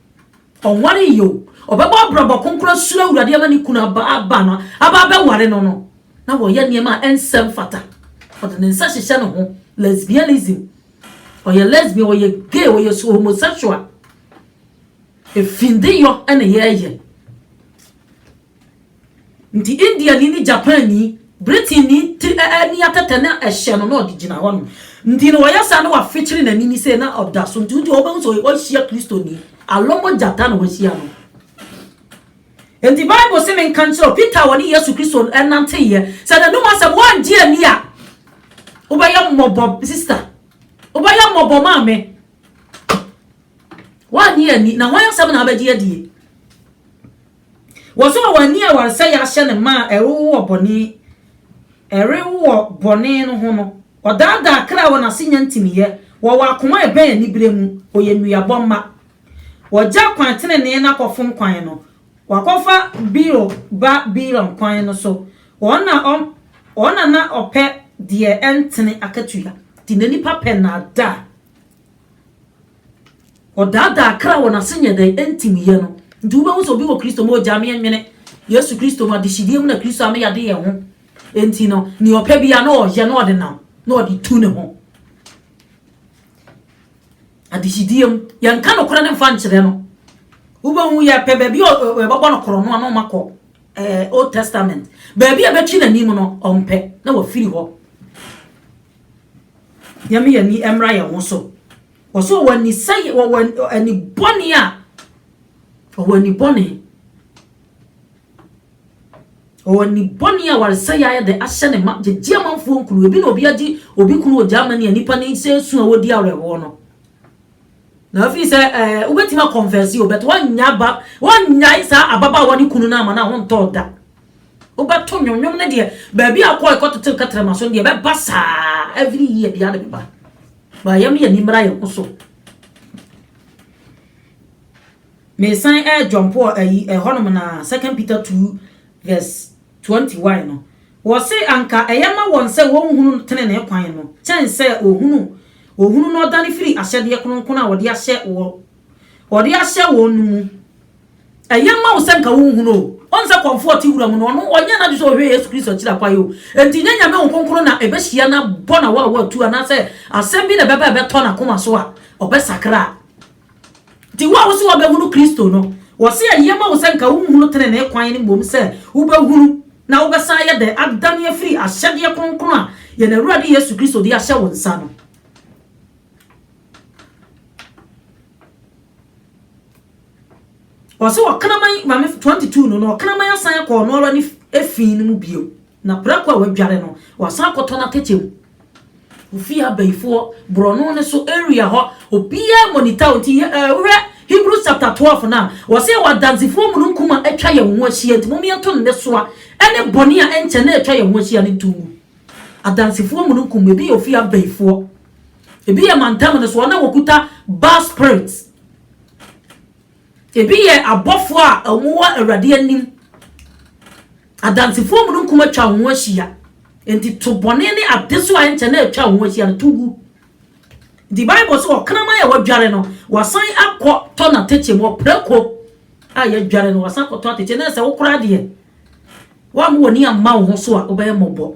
Ɔnwaree yi o, ɔbɛbɔ abrabɔ kronkron asuro Awurade ama ne kunu aba aba no aba abɛware no no, na wɔyɛ nneɛma a ɛnsɛ mfata. Ɔde ne nsa hyehyɛ ne ho, lesbianism, ɔyɛ lesbian, ɔyɛ gay, ɔyɛ so homosexual. Efindeyɔ na yɛreyɛ. Nti Indiani ne Japanni, Britainni ti ɛ ɛ ni atɛtɛ na ɛhyɛ no na ɔde gyina hɔ no. Nti no ɔyɛ saa na wafekyere n'ani ni sei na ɔda so nti wodi wobɛhu sɛ wahyia Kristoni. Alɔmɔ gyata na wahyia no. Nti Bible se menka nkyerɛ wo, Peter a ɔne Yesu Kristo nanteeɛ, sɛ n'anom asɛm woangye anni a, wobɛyɛ mmɔbɔ, sister. Wobɛyɛ mmɔbɔ maame. Woannye anni, na hwan asɛm na abɛgye adie? Wɔsɔɔ wɔn ani a wɔn nsa yɛ ahyɛ no ma a ɛrewo wɔ bɔne ɛrewo wɔ bɔne no ho no. Ɔdaadaa kra a wɔn ase nya ntiniiɛ, wɔwɔ akoma a ɛbɛn anibereɛ mu, wɔyɛ nnuabɔ mma. Wɔgya kwan tenenee no akɔfom kwan no, wɔakɔfa Beor ba Balaam kwan no so, wɔn na ɔm, wɔn na na ɔpɛ deɛ ɛntene akatua. Enti na nnipa pɛ nnaadaa. Ɔdaadaa kra wɔ n'ase nyɛ dɛn nti mu yɛ no nti wobɛhu sɛ obi wɔ Kristo mu ogyaa me nwene Yesu Kristo mu adehyedeɛ mu na Kristo a me yade yɛ ho nti no nea ɔpɛ bia na ɔyɛ na ɔde nam na ɔde tu ne ho adehyedeɛ mu yɛnka nokorɛ no mfa nkyerɛ no wobɛhu yɛpɛ baabi a ɛbɛbɔ no korɔ no ano ma kɔ eh, Old Testament baabi a ɛbɛtwe n'anim no ɔmpɛ na wafiri hɔ Nyame ani mmra yɛn ho so. Ɔsɛ ɔwɔ ani sɛ ɔwɔ ani bɔne a ɔwɔ ani bɔne. Ɔwɔ ani bɔne a waresɛ yɛ ayɛ dɛ ahyɛ ne ma gyegye amanfoɔ nkuru. Ebi na obi agye obi kunu wɔ Germany a nipa ne sɛ esu a wɔdi awerɛhoɔ no. Na afei sɛ ɛɛ eh, wobɛtumi akɔnfɛsi o bɛt wɔnnya ba wɔnnyae saa ababaawa ne kunu no ama no a wɔntɔɔ da. Wobɛto nnwom. Nnwom no deɛ, baabi a wokɔ ɛkɔtetew kɛtrɛma so no deɛ, ɛbɛba saa every year biara na ɛbɛba. Ba yɛn yɛn ani mmra yɛn ho so. Mesan ɛredwɔmpo ayi ɛhɔnom na Second Peter two verse twenty one no. Wɔse anka ɛyɛ ma wɔn sɛ wɔnhunu tenenee kwan no kyɛn sɛ wɔhunu wɔhunu na wɔdane firi ahyɛdeɛ kronkron a wɔde ahyɛ wɔ Wɔde ahyɛ wɔn no mu. Ɛyɛ mma wo sɛ nka wonhunu o. Ɔn sɛ kɔmfoɔ ɔte wura mu no, ɔno ɔnyɛ n'adwe sɛ ɔhwɛ Yesu Kristo akyiri akwan o. Enti nyɛ Nyame Honhom Kronkron na ɛbɛhyia no abɔ n'awaawa atu anaasɛ asɛm bi na ɛbɛba a ɛbɛtɔ n'akoma so a ɔbɛsakra. Enti wo a wose wobɛhunu Kristo no, wɔse ɛyɛ ma wo sɛ nka wonhunu tenenee kwan no mmom sɛ wobɛhunu na wobɛsan ayɛ dɛn adane afiri ahyɛdeɛ kronkron a yɛn Awurade Yesu Kristo de ahyɛ wo nsa no. Ɔse ɔkraman mame fo 22 no na ɔkraman asan akɔ ɔno ara ne efii no mu bio na prako a wadware no wasan akɔtɔ n'atɛkyɛ mu. Ofie abayifoɔ borɔno no so area hɔ obiara monitor wo nti yɛ eh, wohwɛ Hebrews chapter 12 no a wɔse yɛwɔ adansefoɔ mununkum a atwa yɛn ho ahyia nti mom yɛnto nnesoa ne bɔne a ɛnkyɛ na atwa yɛn ho ahyia no nto ngu. Adansefoɔ mununkum ebi yɛ ofie abayifoɔ. Ebi yɛ mantam no so wɔn a wɔkuta Baal spirit. Ebi yɛ abɔfoɔ a wɔwɔ Awurade anim. Adansefoɔ mununkum atwa wɔn ho ahyia. Enti to bɔne ne adesoa a ɛnkyɛ na atwa wɔn ho ahyia no to gu. Nti Bible sɛ ɔkraman a wɔadware no, wasan akɔ tɔ n'atɛkyɛ mu ɔprako a yɛadware no wasan akɔtɔ atɛkyɛ na sɛ wokora deɛ wɔn a wɔn ani amma wo ho so a wobɛyɛ mmɔbɔ.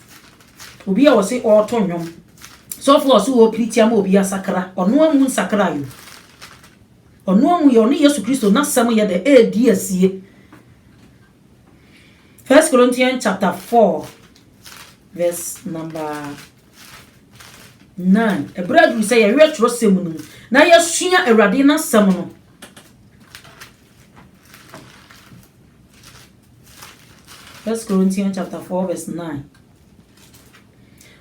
Obi a ɔse ɔɔto nnwom. Sɔfo a ɔse ɔɔpiri ti ama obi asakra, ɔno amu nsakrae o. Ɔno amu yɛ ɔne Yesu Kristo n'asɛm yɛ dɛ eedi asie. First Corinthians chapter four verse number nine. Ɛberɛ aduru sɛ yɛwerɛ twerɛsɛm no mu na yɛsua Awurade n'asɛm no. First Corinthians chapter 4 verse 9.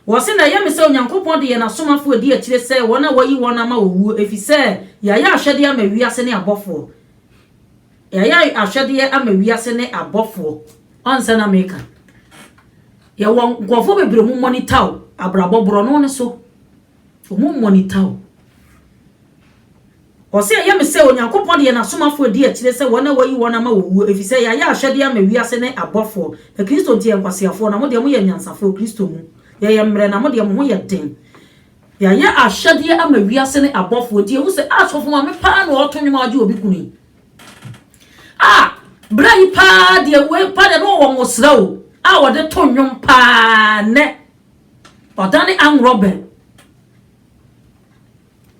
Wɔse na ɛyɛ me sɛ Onyankopɔn de yɛn asomafoɔ adi akyire sɛ wɔn a wɔayi wɔn ama owuo ɛfiri sɛ yɛayɛ ahwɛdeɛ ama wiase ne abɔfoɔ. Yɛayɛ ahwɛdeɛ ama wiase ne abɔfoɔ. Ɔnsɛ na meka. Yɛwɔ nkurɔfoɔ bebree mu mɔnita o, abrabɔ borɔ no ne so. Ɔmo mmonita o. Ɔse, Ɛyɛ me sɛ Onyankopɔn de yɛn asomafo redi akyire sɛ wɔn a wɔayi wɔn ama wɔwuo, efisɛ yɛayɛ ahwɛdeɛ ama wiase ne abɔfoɔ. Na Kristo nti yɛyɛ nkwaseafoɔ, na mo deɛ moyɛ anyansafoɔ, Kristo mu, yɛyɛ mmerɛ, na mo deɛ mo ho yɛ den. Yɛayɛ ahwɛdeɛ ama wiase ne abɔfoɔ, nti yɛhu sɛ, asɔfo maame paa na ɔreto nnwom a ɔgye obi kunu yi. A, berɛ yi paa deɛ, wei paa deɛ na ɔwɔ nwosra o, a ɔde to nnwom paa nnɛ. Ɔdane Anworɔ Bɛn?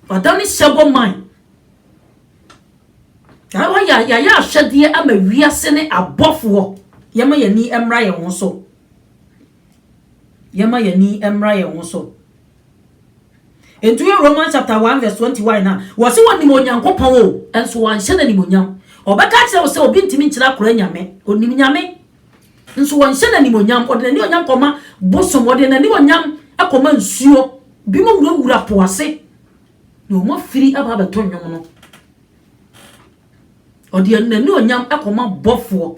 Ɔdane Sebo Man? Ɛhɔ yɛ yɛayɛ ahwɛdeɛ ama wiase ne abɔfoɔ. Yɛma yɛn ani mmra yɛn ho so. Yɛma yɛn ani mmra yɛn ho so. Nti yɛ Romans chapter one verse twenty one na wɔsi wɔn nim Onyankopɔn o, nso wɔn ahyɛ no animonyam. Ɔbɛka kyerɛ wo sɛ obi ntumi nkyerɛ akora nyame, onim nyame. Nso ɔnhyɛ no animuonyam. Ɔde n'animuonyam kɔma bosom. Ɔde n'animuonyam kɔma nsuo. Binom wurawura po ase, na wɔafiri aba abɛto nnwom no. Ɔde n'animuonyam kɔma bɔfoɔ.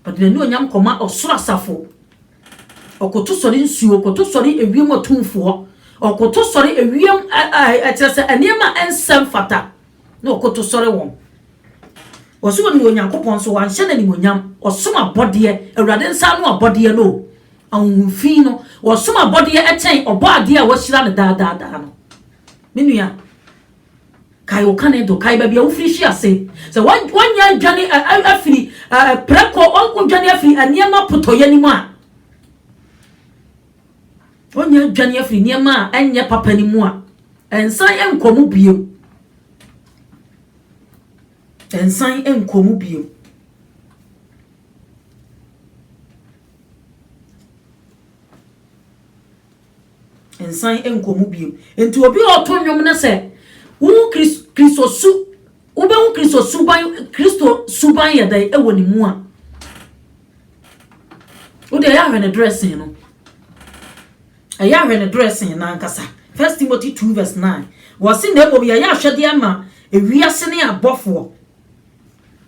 Ɔde n'animuonyam kɔma ɔsoro asafo. Ɔkoto sɔre nsuo, ɔkoto sɔre ewiem atumfoɔ, ɔkoto sɔre ewiem, ɛɛ, ɛkyerɛ sɛ nneɛma a ɛnsɛ mfata. na ɔkoto sɔre wɔn. Wɔse wɔnim Onyankopɔn nso wɔanhyɛ no animuonyam. Wɔsom abɔdeɛ, Awurade nsa ano abɔdeɛ no o, ahonhomfi no. Wɔsom abɔdeɛ kyɛn Ɔbɔadeɛ a wɔahyira no daa daa daa no. Me nua, kae wo kane do, kae baabi a wofiri hwe ase. Sɛ woanya adwane afiri prɛko, wodwane afiri nneɛma potɔyɛ no mu a, Onya adwane afiri nneɛma a ɛnyɛ papa no mu a, ɛnsan nkɔ mu bio. Ɛnsan nkɔ mu bio. nsan nkɔ mu bio nti obi a ɔto nnwom no sɛ wohu kristo su wobɛhu kristo suban kristo suban yɛ dɛn wɔ ne mu a Wo deɛ ɛyɛ ahwɛ ne dressing no. Ɛyɛ ahwɛ ne dressing no ankasa. First Timothy 2 verse 9. Wɔse na mmom yɛyɛ ahwɛdeɛ ma ewiase ne abɔfoɔ.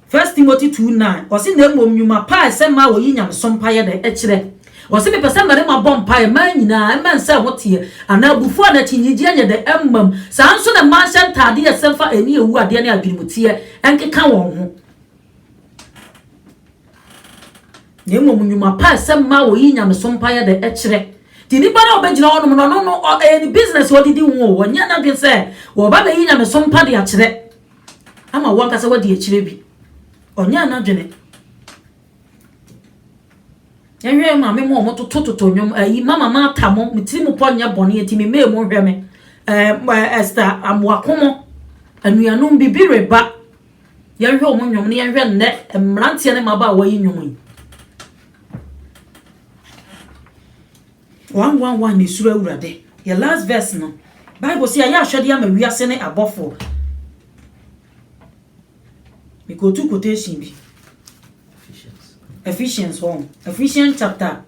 First Timothy 2 9. Wɔse na mmom nnwuma pa a ɛsɛ ma wɔyi nyamesom pa yɛ dɛ ɛkyerɛ. Wɔse mepɛ sɛ mmarima bɔ mpaeɛ mmaa nyinaa mmɛn sɛ ho teɛ anaa abufuo anaa akyinnyegyeɛ nyɛ dɛ mmam. Saa nso na mmaa nhyɛ ntaadeɛ a ɛsɛ mfa ɛne awu adeɛ ne adwenemuteɛ nkeka wɔn ho. Na mmom nnwuma pa a ɛsɛ mmaa a wɔyi nyamesom pa yɛ de kyerɛ. Nti nipa no a ɔbɛgyina hɔnom no, ɔno no, ɛyɛ ne business a ɔde di ho o, ɔnyɛ n'adwene sɛ wɔba abɛyi nyamesom pa de akyerɛ ama wankasa wadi akyire bi. Ɔnyɛ n'adwene. Yɛnhwɛ maame mu a wɔtotototo nnwom, ayi mama maata mo, me tiri mu pɔ nyɛ bɔne, nti me mmɛɛ mu nhwɛ me. Ɛɛ Esther Amoakomo, anuanom bibi reba, Yɛnhwɛ wɔn nnwom na yɛnhwɛ nnɛ mmeranteɛ ne mmabaawa yi nnwom yi. One one one na esuro awurade. Yɛ last verse no. Bible sɛ yɛayɛ ahwɛdeɛ ama wiase ne abɔfoɔ. Mekɔtu quotation bi. Ephesians hɔ. Ephesians chapter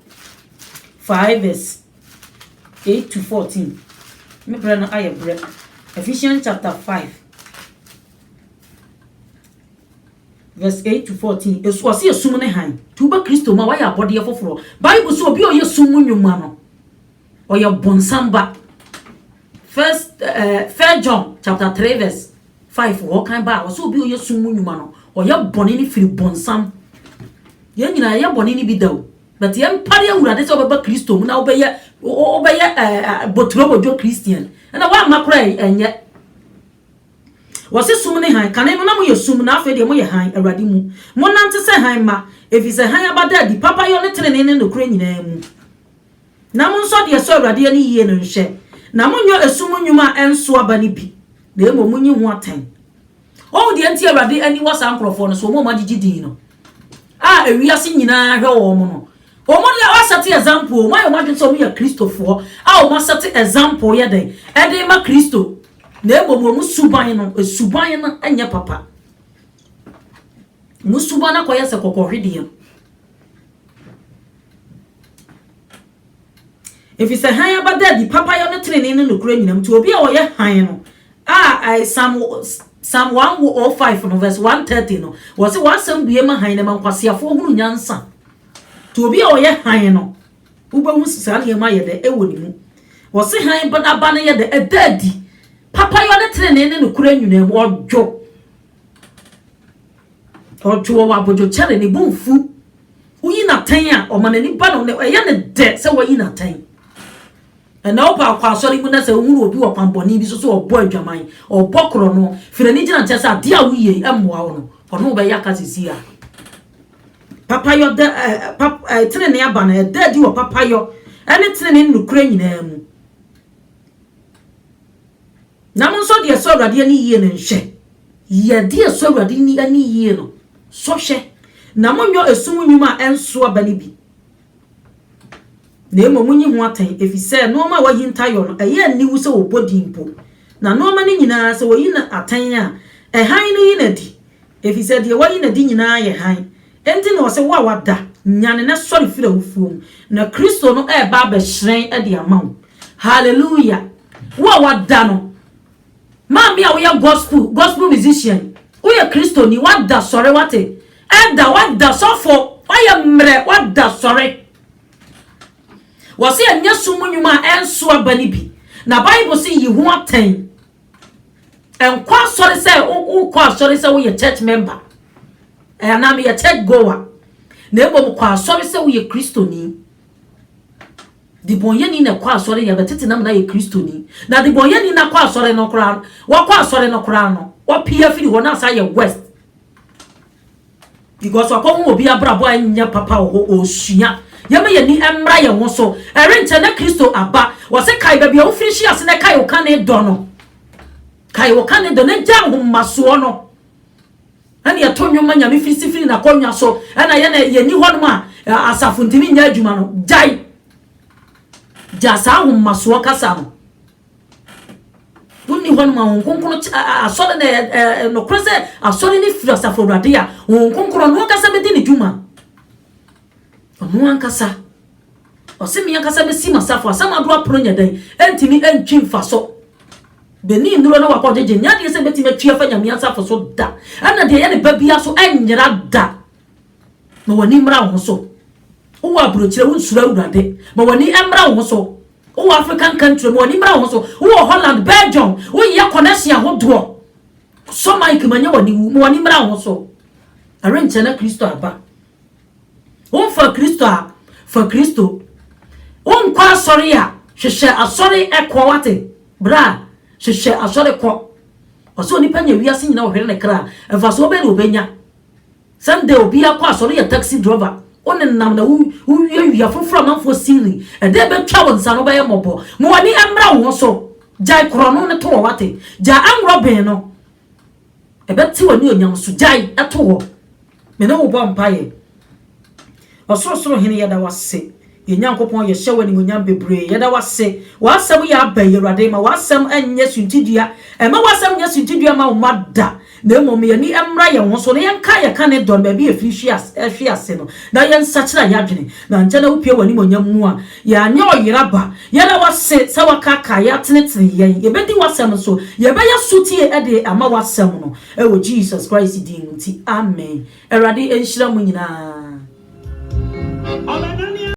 5 verse 8 to 14. Me berɛ no ayɛ berɛ. Ephesians chapter 5. Verse 8 to 14. Esu ɔsi esum ne han. Tu ba Kristo mu a wayɛ abɔdeɛ foforɔ. Bible sɛ obi a ɔyɛ sum mu nnwuma no, ɔyɛ bonsam ba. First, uh, eh, First John chapter 3 verse 5 hɔ kan ba a ɔsɛ obi a ɔyɛ sum mu nnwuma no, ɔyɛ bɔne no firi bonsam. Yɛn nyinaa yɛ bɔne no bi da o. But yɛn mpare awurade sɛ ɔbɛba Kristo mu na ɔbɛyɛ ɔbɛyɛ ɛɛ eh, eh, boturo bodwo Christian. Ɛna wɔamma koraa ɛnyɛ. Wɔse sum ne hann, kane no na moyɛ sum, na afei deɛ moyɛ hann, Awurade mu. Monnante sɛ hann mma, ɛfiri sɛ hann aba da adi papayɔ ne tenenee ne nokorɛ nyinaa mu. Na monsɔ deɛ ɛsɔ Awurade ani yie no nhwɛ, na monnyɔ esum nnwuma a ɛnso aba no bi, na mmom monyi ho atɛn. Woahu deɛ enti a Awurade ani wɔ saa nkurɔfoɔ no so, wɔn a wɔagyegye din no? a ewiase nyinaa hwɛ wɔn no, wɔn deɛ wɔasɛte example, wɔn ayɛ wɔn adwene sɛ wɔn yɛ Kristofoɔ a wɔn asɛte example yɛ dɛn ɛde rema Kristo, na mmom wɔn suban no, suban no nyɛ papa. Wɔn suban no akɔyɛ sɛ kɔkɔhwedeɛ. Efisɛ hann a ɛbɛda adi, papayɔ ne trenee ne nokorɛ nyinam nti, obi a ɔyɛ hann no a Psalm Psalm one oh five no verse one thirty no, wɔsi w'asɛm bue ma hann na ɛma nkwaseafoɔ hunu nyansa. Nti obi a ɔyɛ hann no, wobɛhu saa nneɛma yɛ dɛ ɛwɔ ne mu. Wɔsi hann ba n'aba no yɛ dɛ ɛda adi, papayɔ ne trenee ne nokorɛ nyinaa mu, ɔdwo Ɔto wɔ w'abodwokyɛre, ne bo mfu. Woyi no atɛn a, ɔma n'ani ba no, na ɛyɛ no dɛ sɛ wayi no atɛn. Ɛnna ɔba akɔ asɔre mu na sɛ ohunu obi wɔ kwammɔne bi so sɛ ɔbɔ adwaman, ɔbɔ korɔ no, firi n'ani gyina nkyɛn sɛ adeɛ a woyɛ yi mmoa wo no, ɔne wo bɛyɛ aka seesei a. Papayɔ da ɛ pa ɛ tenenee aba no ɛda adi wɔ papayɔ ne tenenee ne nokorɛ nyinaa mu. Na mo nso de ɛsɔ Awurade ani yie no nhwɛ. Yɛ deɛ ɛsɔ Awurade ni ani yie no sɔ hwɛ, na monnyɔ esum nnwuma a ɛnso aba no bi, na mmom monyi ho atɛn, ɛfiri sɛ nnoɔma a wɔahinta yɔ no, ɛyɛ aniwu sɛ wɔbɔ din mpo. Na nnoɔma no nyina ara, sɛ wɔyi no atɛn a, ɛhan no yi no adi, ɛfiri sɛ deɛ wɔayi no adi nyina ara yɛ hann. Enti na ɔse, Wo a wada, nyane na sɔre firi awufoɔ mu, na Kristo no reba abɛhyerɛn de ama wo. Hallelujah wo a wada no. Maame a woyɛ gospel gospel musician woyɛ kristoni wada sɔre wate ɛda wada sɔfo wayɛ mmerɛ wada sɔre wɔse ɛnyɛ so mu nnwuma a ɛnso aba no bi na bible se yi ho atɛn ɛnkɔ asɔre sɛ wokɔ asɔre sɛ woyɛ church member ɛanaa meyɛ church goer na mmom kɔ asɔre sɛ woyɛ kristoni Debɔnyɛni na ɛkɔ asɔre yɛ bɛtete nam na yɛ kristoni na debɔnyɛni na kɔ asɔre no koraa no wakɔ asɔre no koraa no wapia firi hɔ na asa yɛ west because wakɔ ho obi abrabɔ a nyɛ papa wɔ hɔ ɔsua yɛma yɛni mmra yɛn ho so ɛrenkyɛ na kristo aba wɔse kae baabi a wofiri hyia se na kae wo ka ne dɔ no kae wo ka ne dɔ na gya ahomasoɔ no na nea ɛto nnwom ma Nyame fi si firi n'akonnwa so, ɛna yɛn a yɛnni hɔnom a asafo ntumi nyɛ adwuma no, gyae, gyaa saa ahomasoɔ kasa no. Wonni hɔnom a Honhom Kronkron kye, asɔre na ɛyɛ, ɛɛ, nokorɛ sɛ asɔre no firi Asafo Awurade a, Honhom Kronkron, ɔno ankasa bɛdi ne dwuma. Ɔno ankasa. Ɔse me ankasa mesi m'asafo asamado apono nyɛ dɛn ɛntumi ɛntwi mfaso. Benin nnuro na wakɔ gyegye nyɛ adeɛ sɛ mɛtumi atwi afa Nyame asafo so da. Ɛna deɛ ɛyɛ ne ba biara so ɛnyera da. Ma w'ani mmra wo ho so. Wowɔ aburokyire wo nsuro Awurade. Ma w'ani ɛmmra wo ho so. Wowɔ African country ma w'ani mmra wo ho so. Wowɔ Holland, Belgium, wo yɛ connection ahodoɔ. Sɔ mic ma nyɛ w'ani wu. Ma w'ani mmra wo ho so. Ɛrenkyɛ na Kristo aba. Womfa Kristo a, fa Kristo. Wonkɔ asɔre a, hwehwɛ asɔre kɔ, woate? Bra a, hwehwɛ asɔre kɔ. Ɔsɛ onipa nya wiase nyina ɔhwere ne kra a, mfasoɔ bɛn na ɔbɛnya? Sɛnde obiara kɔ asɔre yɛ taxi driver, wo nenam na wowiawia foforɔ amanfoɔ siri, ɛdɛn bɛtwa wo nsa no wobɛyɛ mmɔbɔ? Ma w'ani mmra wo ho so, gyae korɔno no toɔ, woate? Gyae anworɔ ben no, Ɛbɛtew anuonyam so. Gyae to hɔ. Me ne wo bɔ mpae. Ɔsorosoro Hene, yɛda wo ase. Yɛn Nyankopɔn, yɛhyɛ wo animuonyam bebree. Yɛda wo ase. W'asɛm yɛ aba yi, Awurade. Ma w'asɛm nyɛ suntidua. Mma w'asɛm nyɛ suntidua mma wo mma da, na mmom ma yɛn ani mmra yɛn ho so, na yɛnka yɛn kane dɔ no baabi a efiri hwe ase no, na yɛnsakyera yɛn adwene, na ankyɛ na wupue w'animuonyam mu a. Yɛanyɛ ɔyera ba. Yɛda wo ase sɛ woakaakaa yɛn atenetene yɛn. Yɛbɛdi w'asɛm so. Yɛbɛyɛ sotie de ama w'asɛm no. Wɔ Jesus Christ din nti, amen. Awurade nhyira mo nyinaa.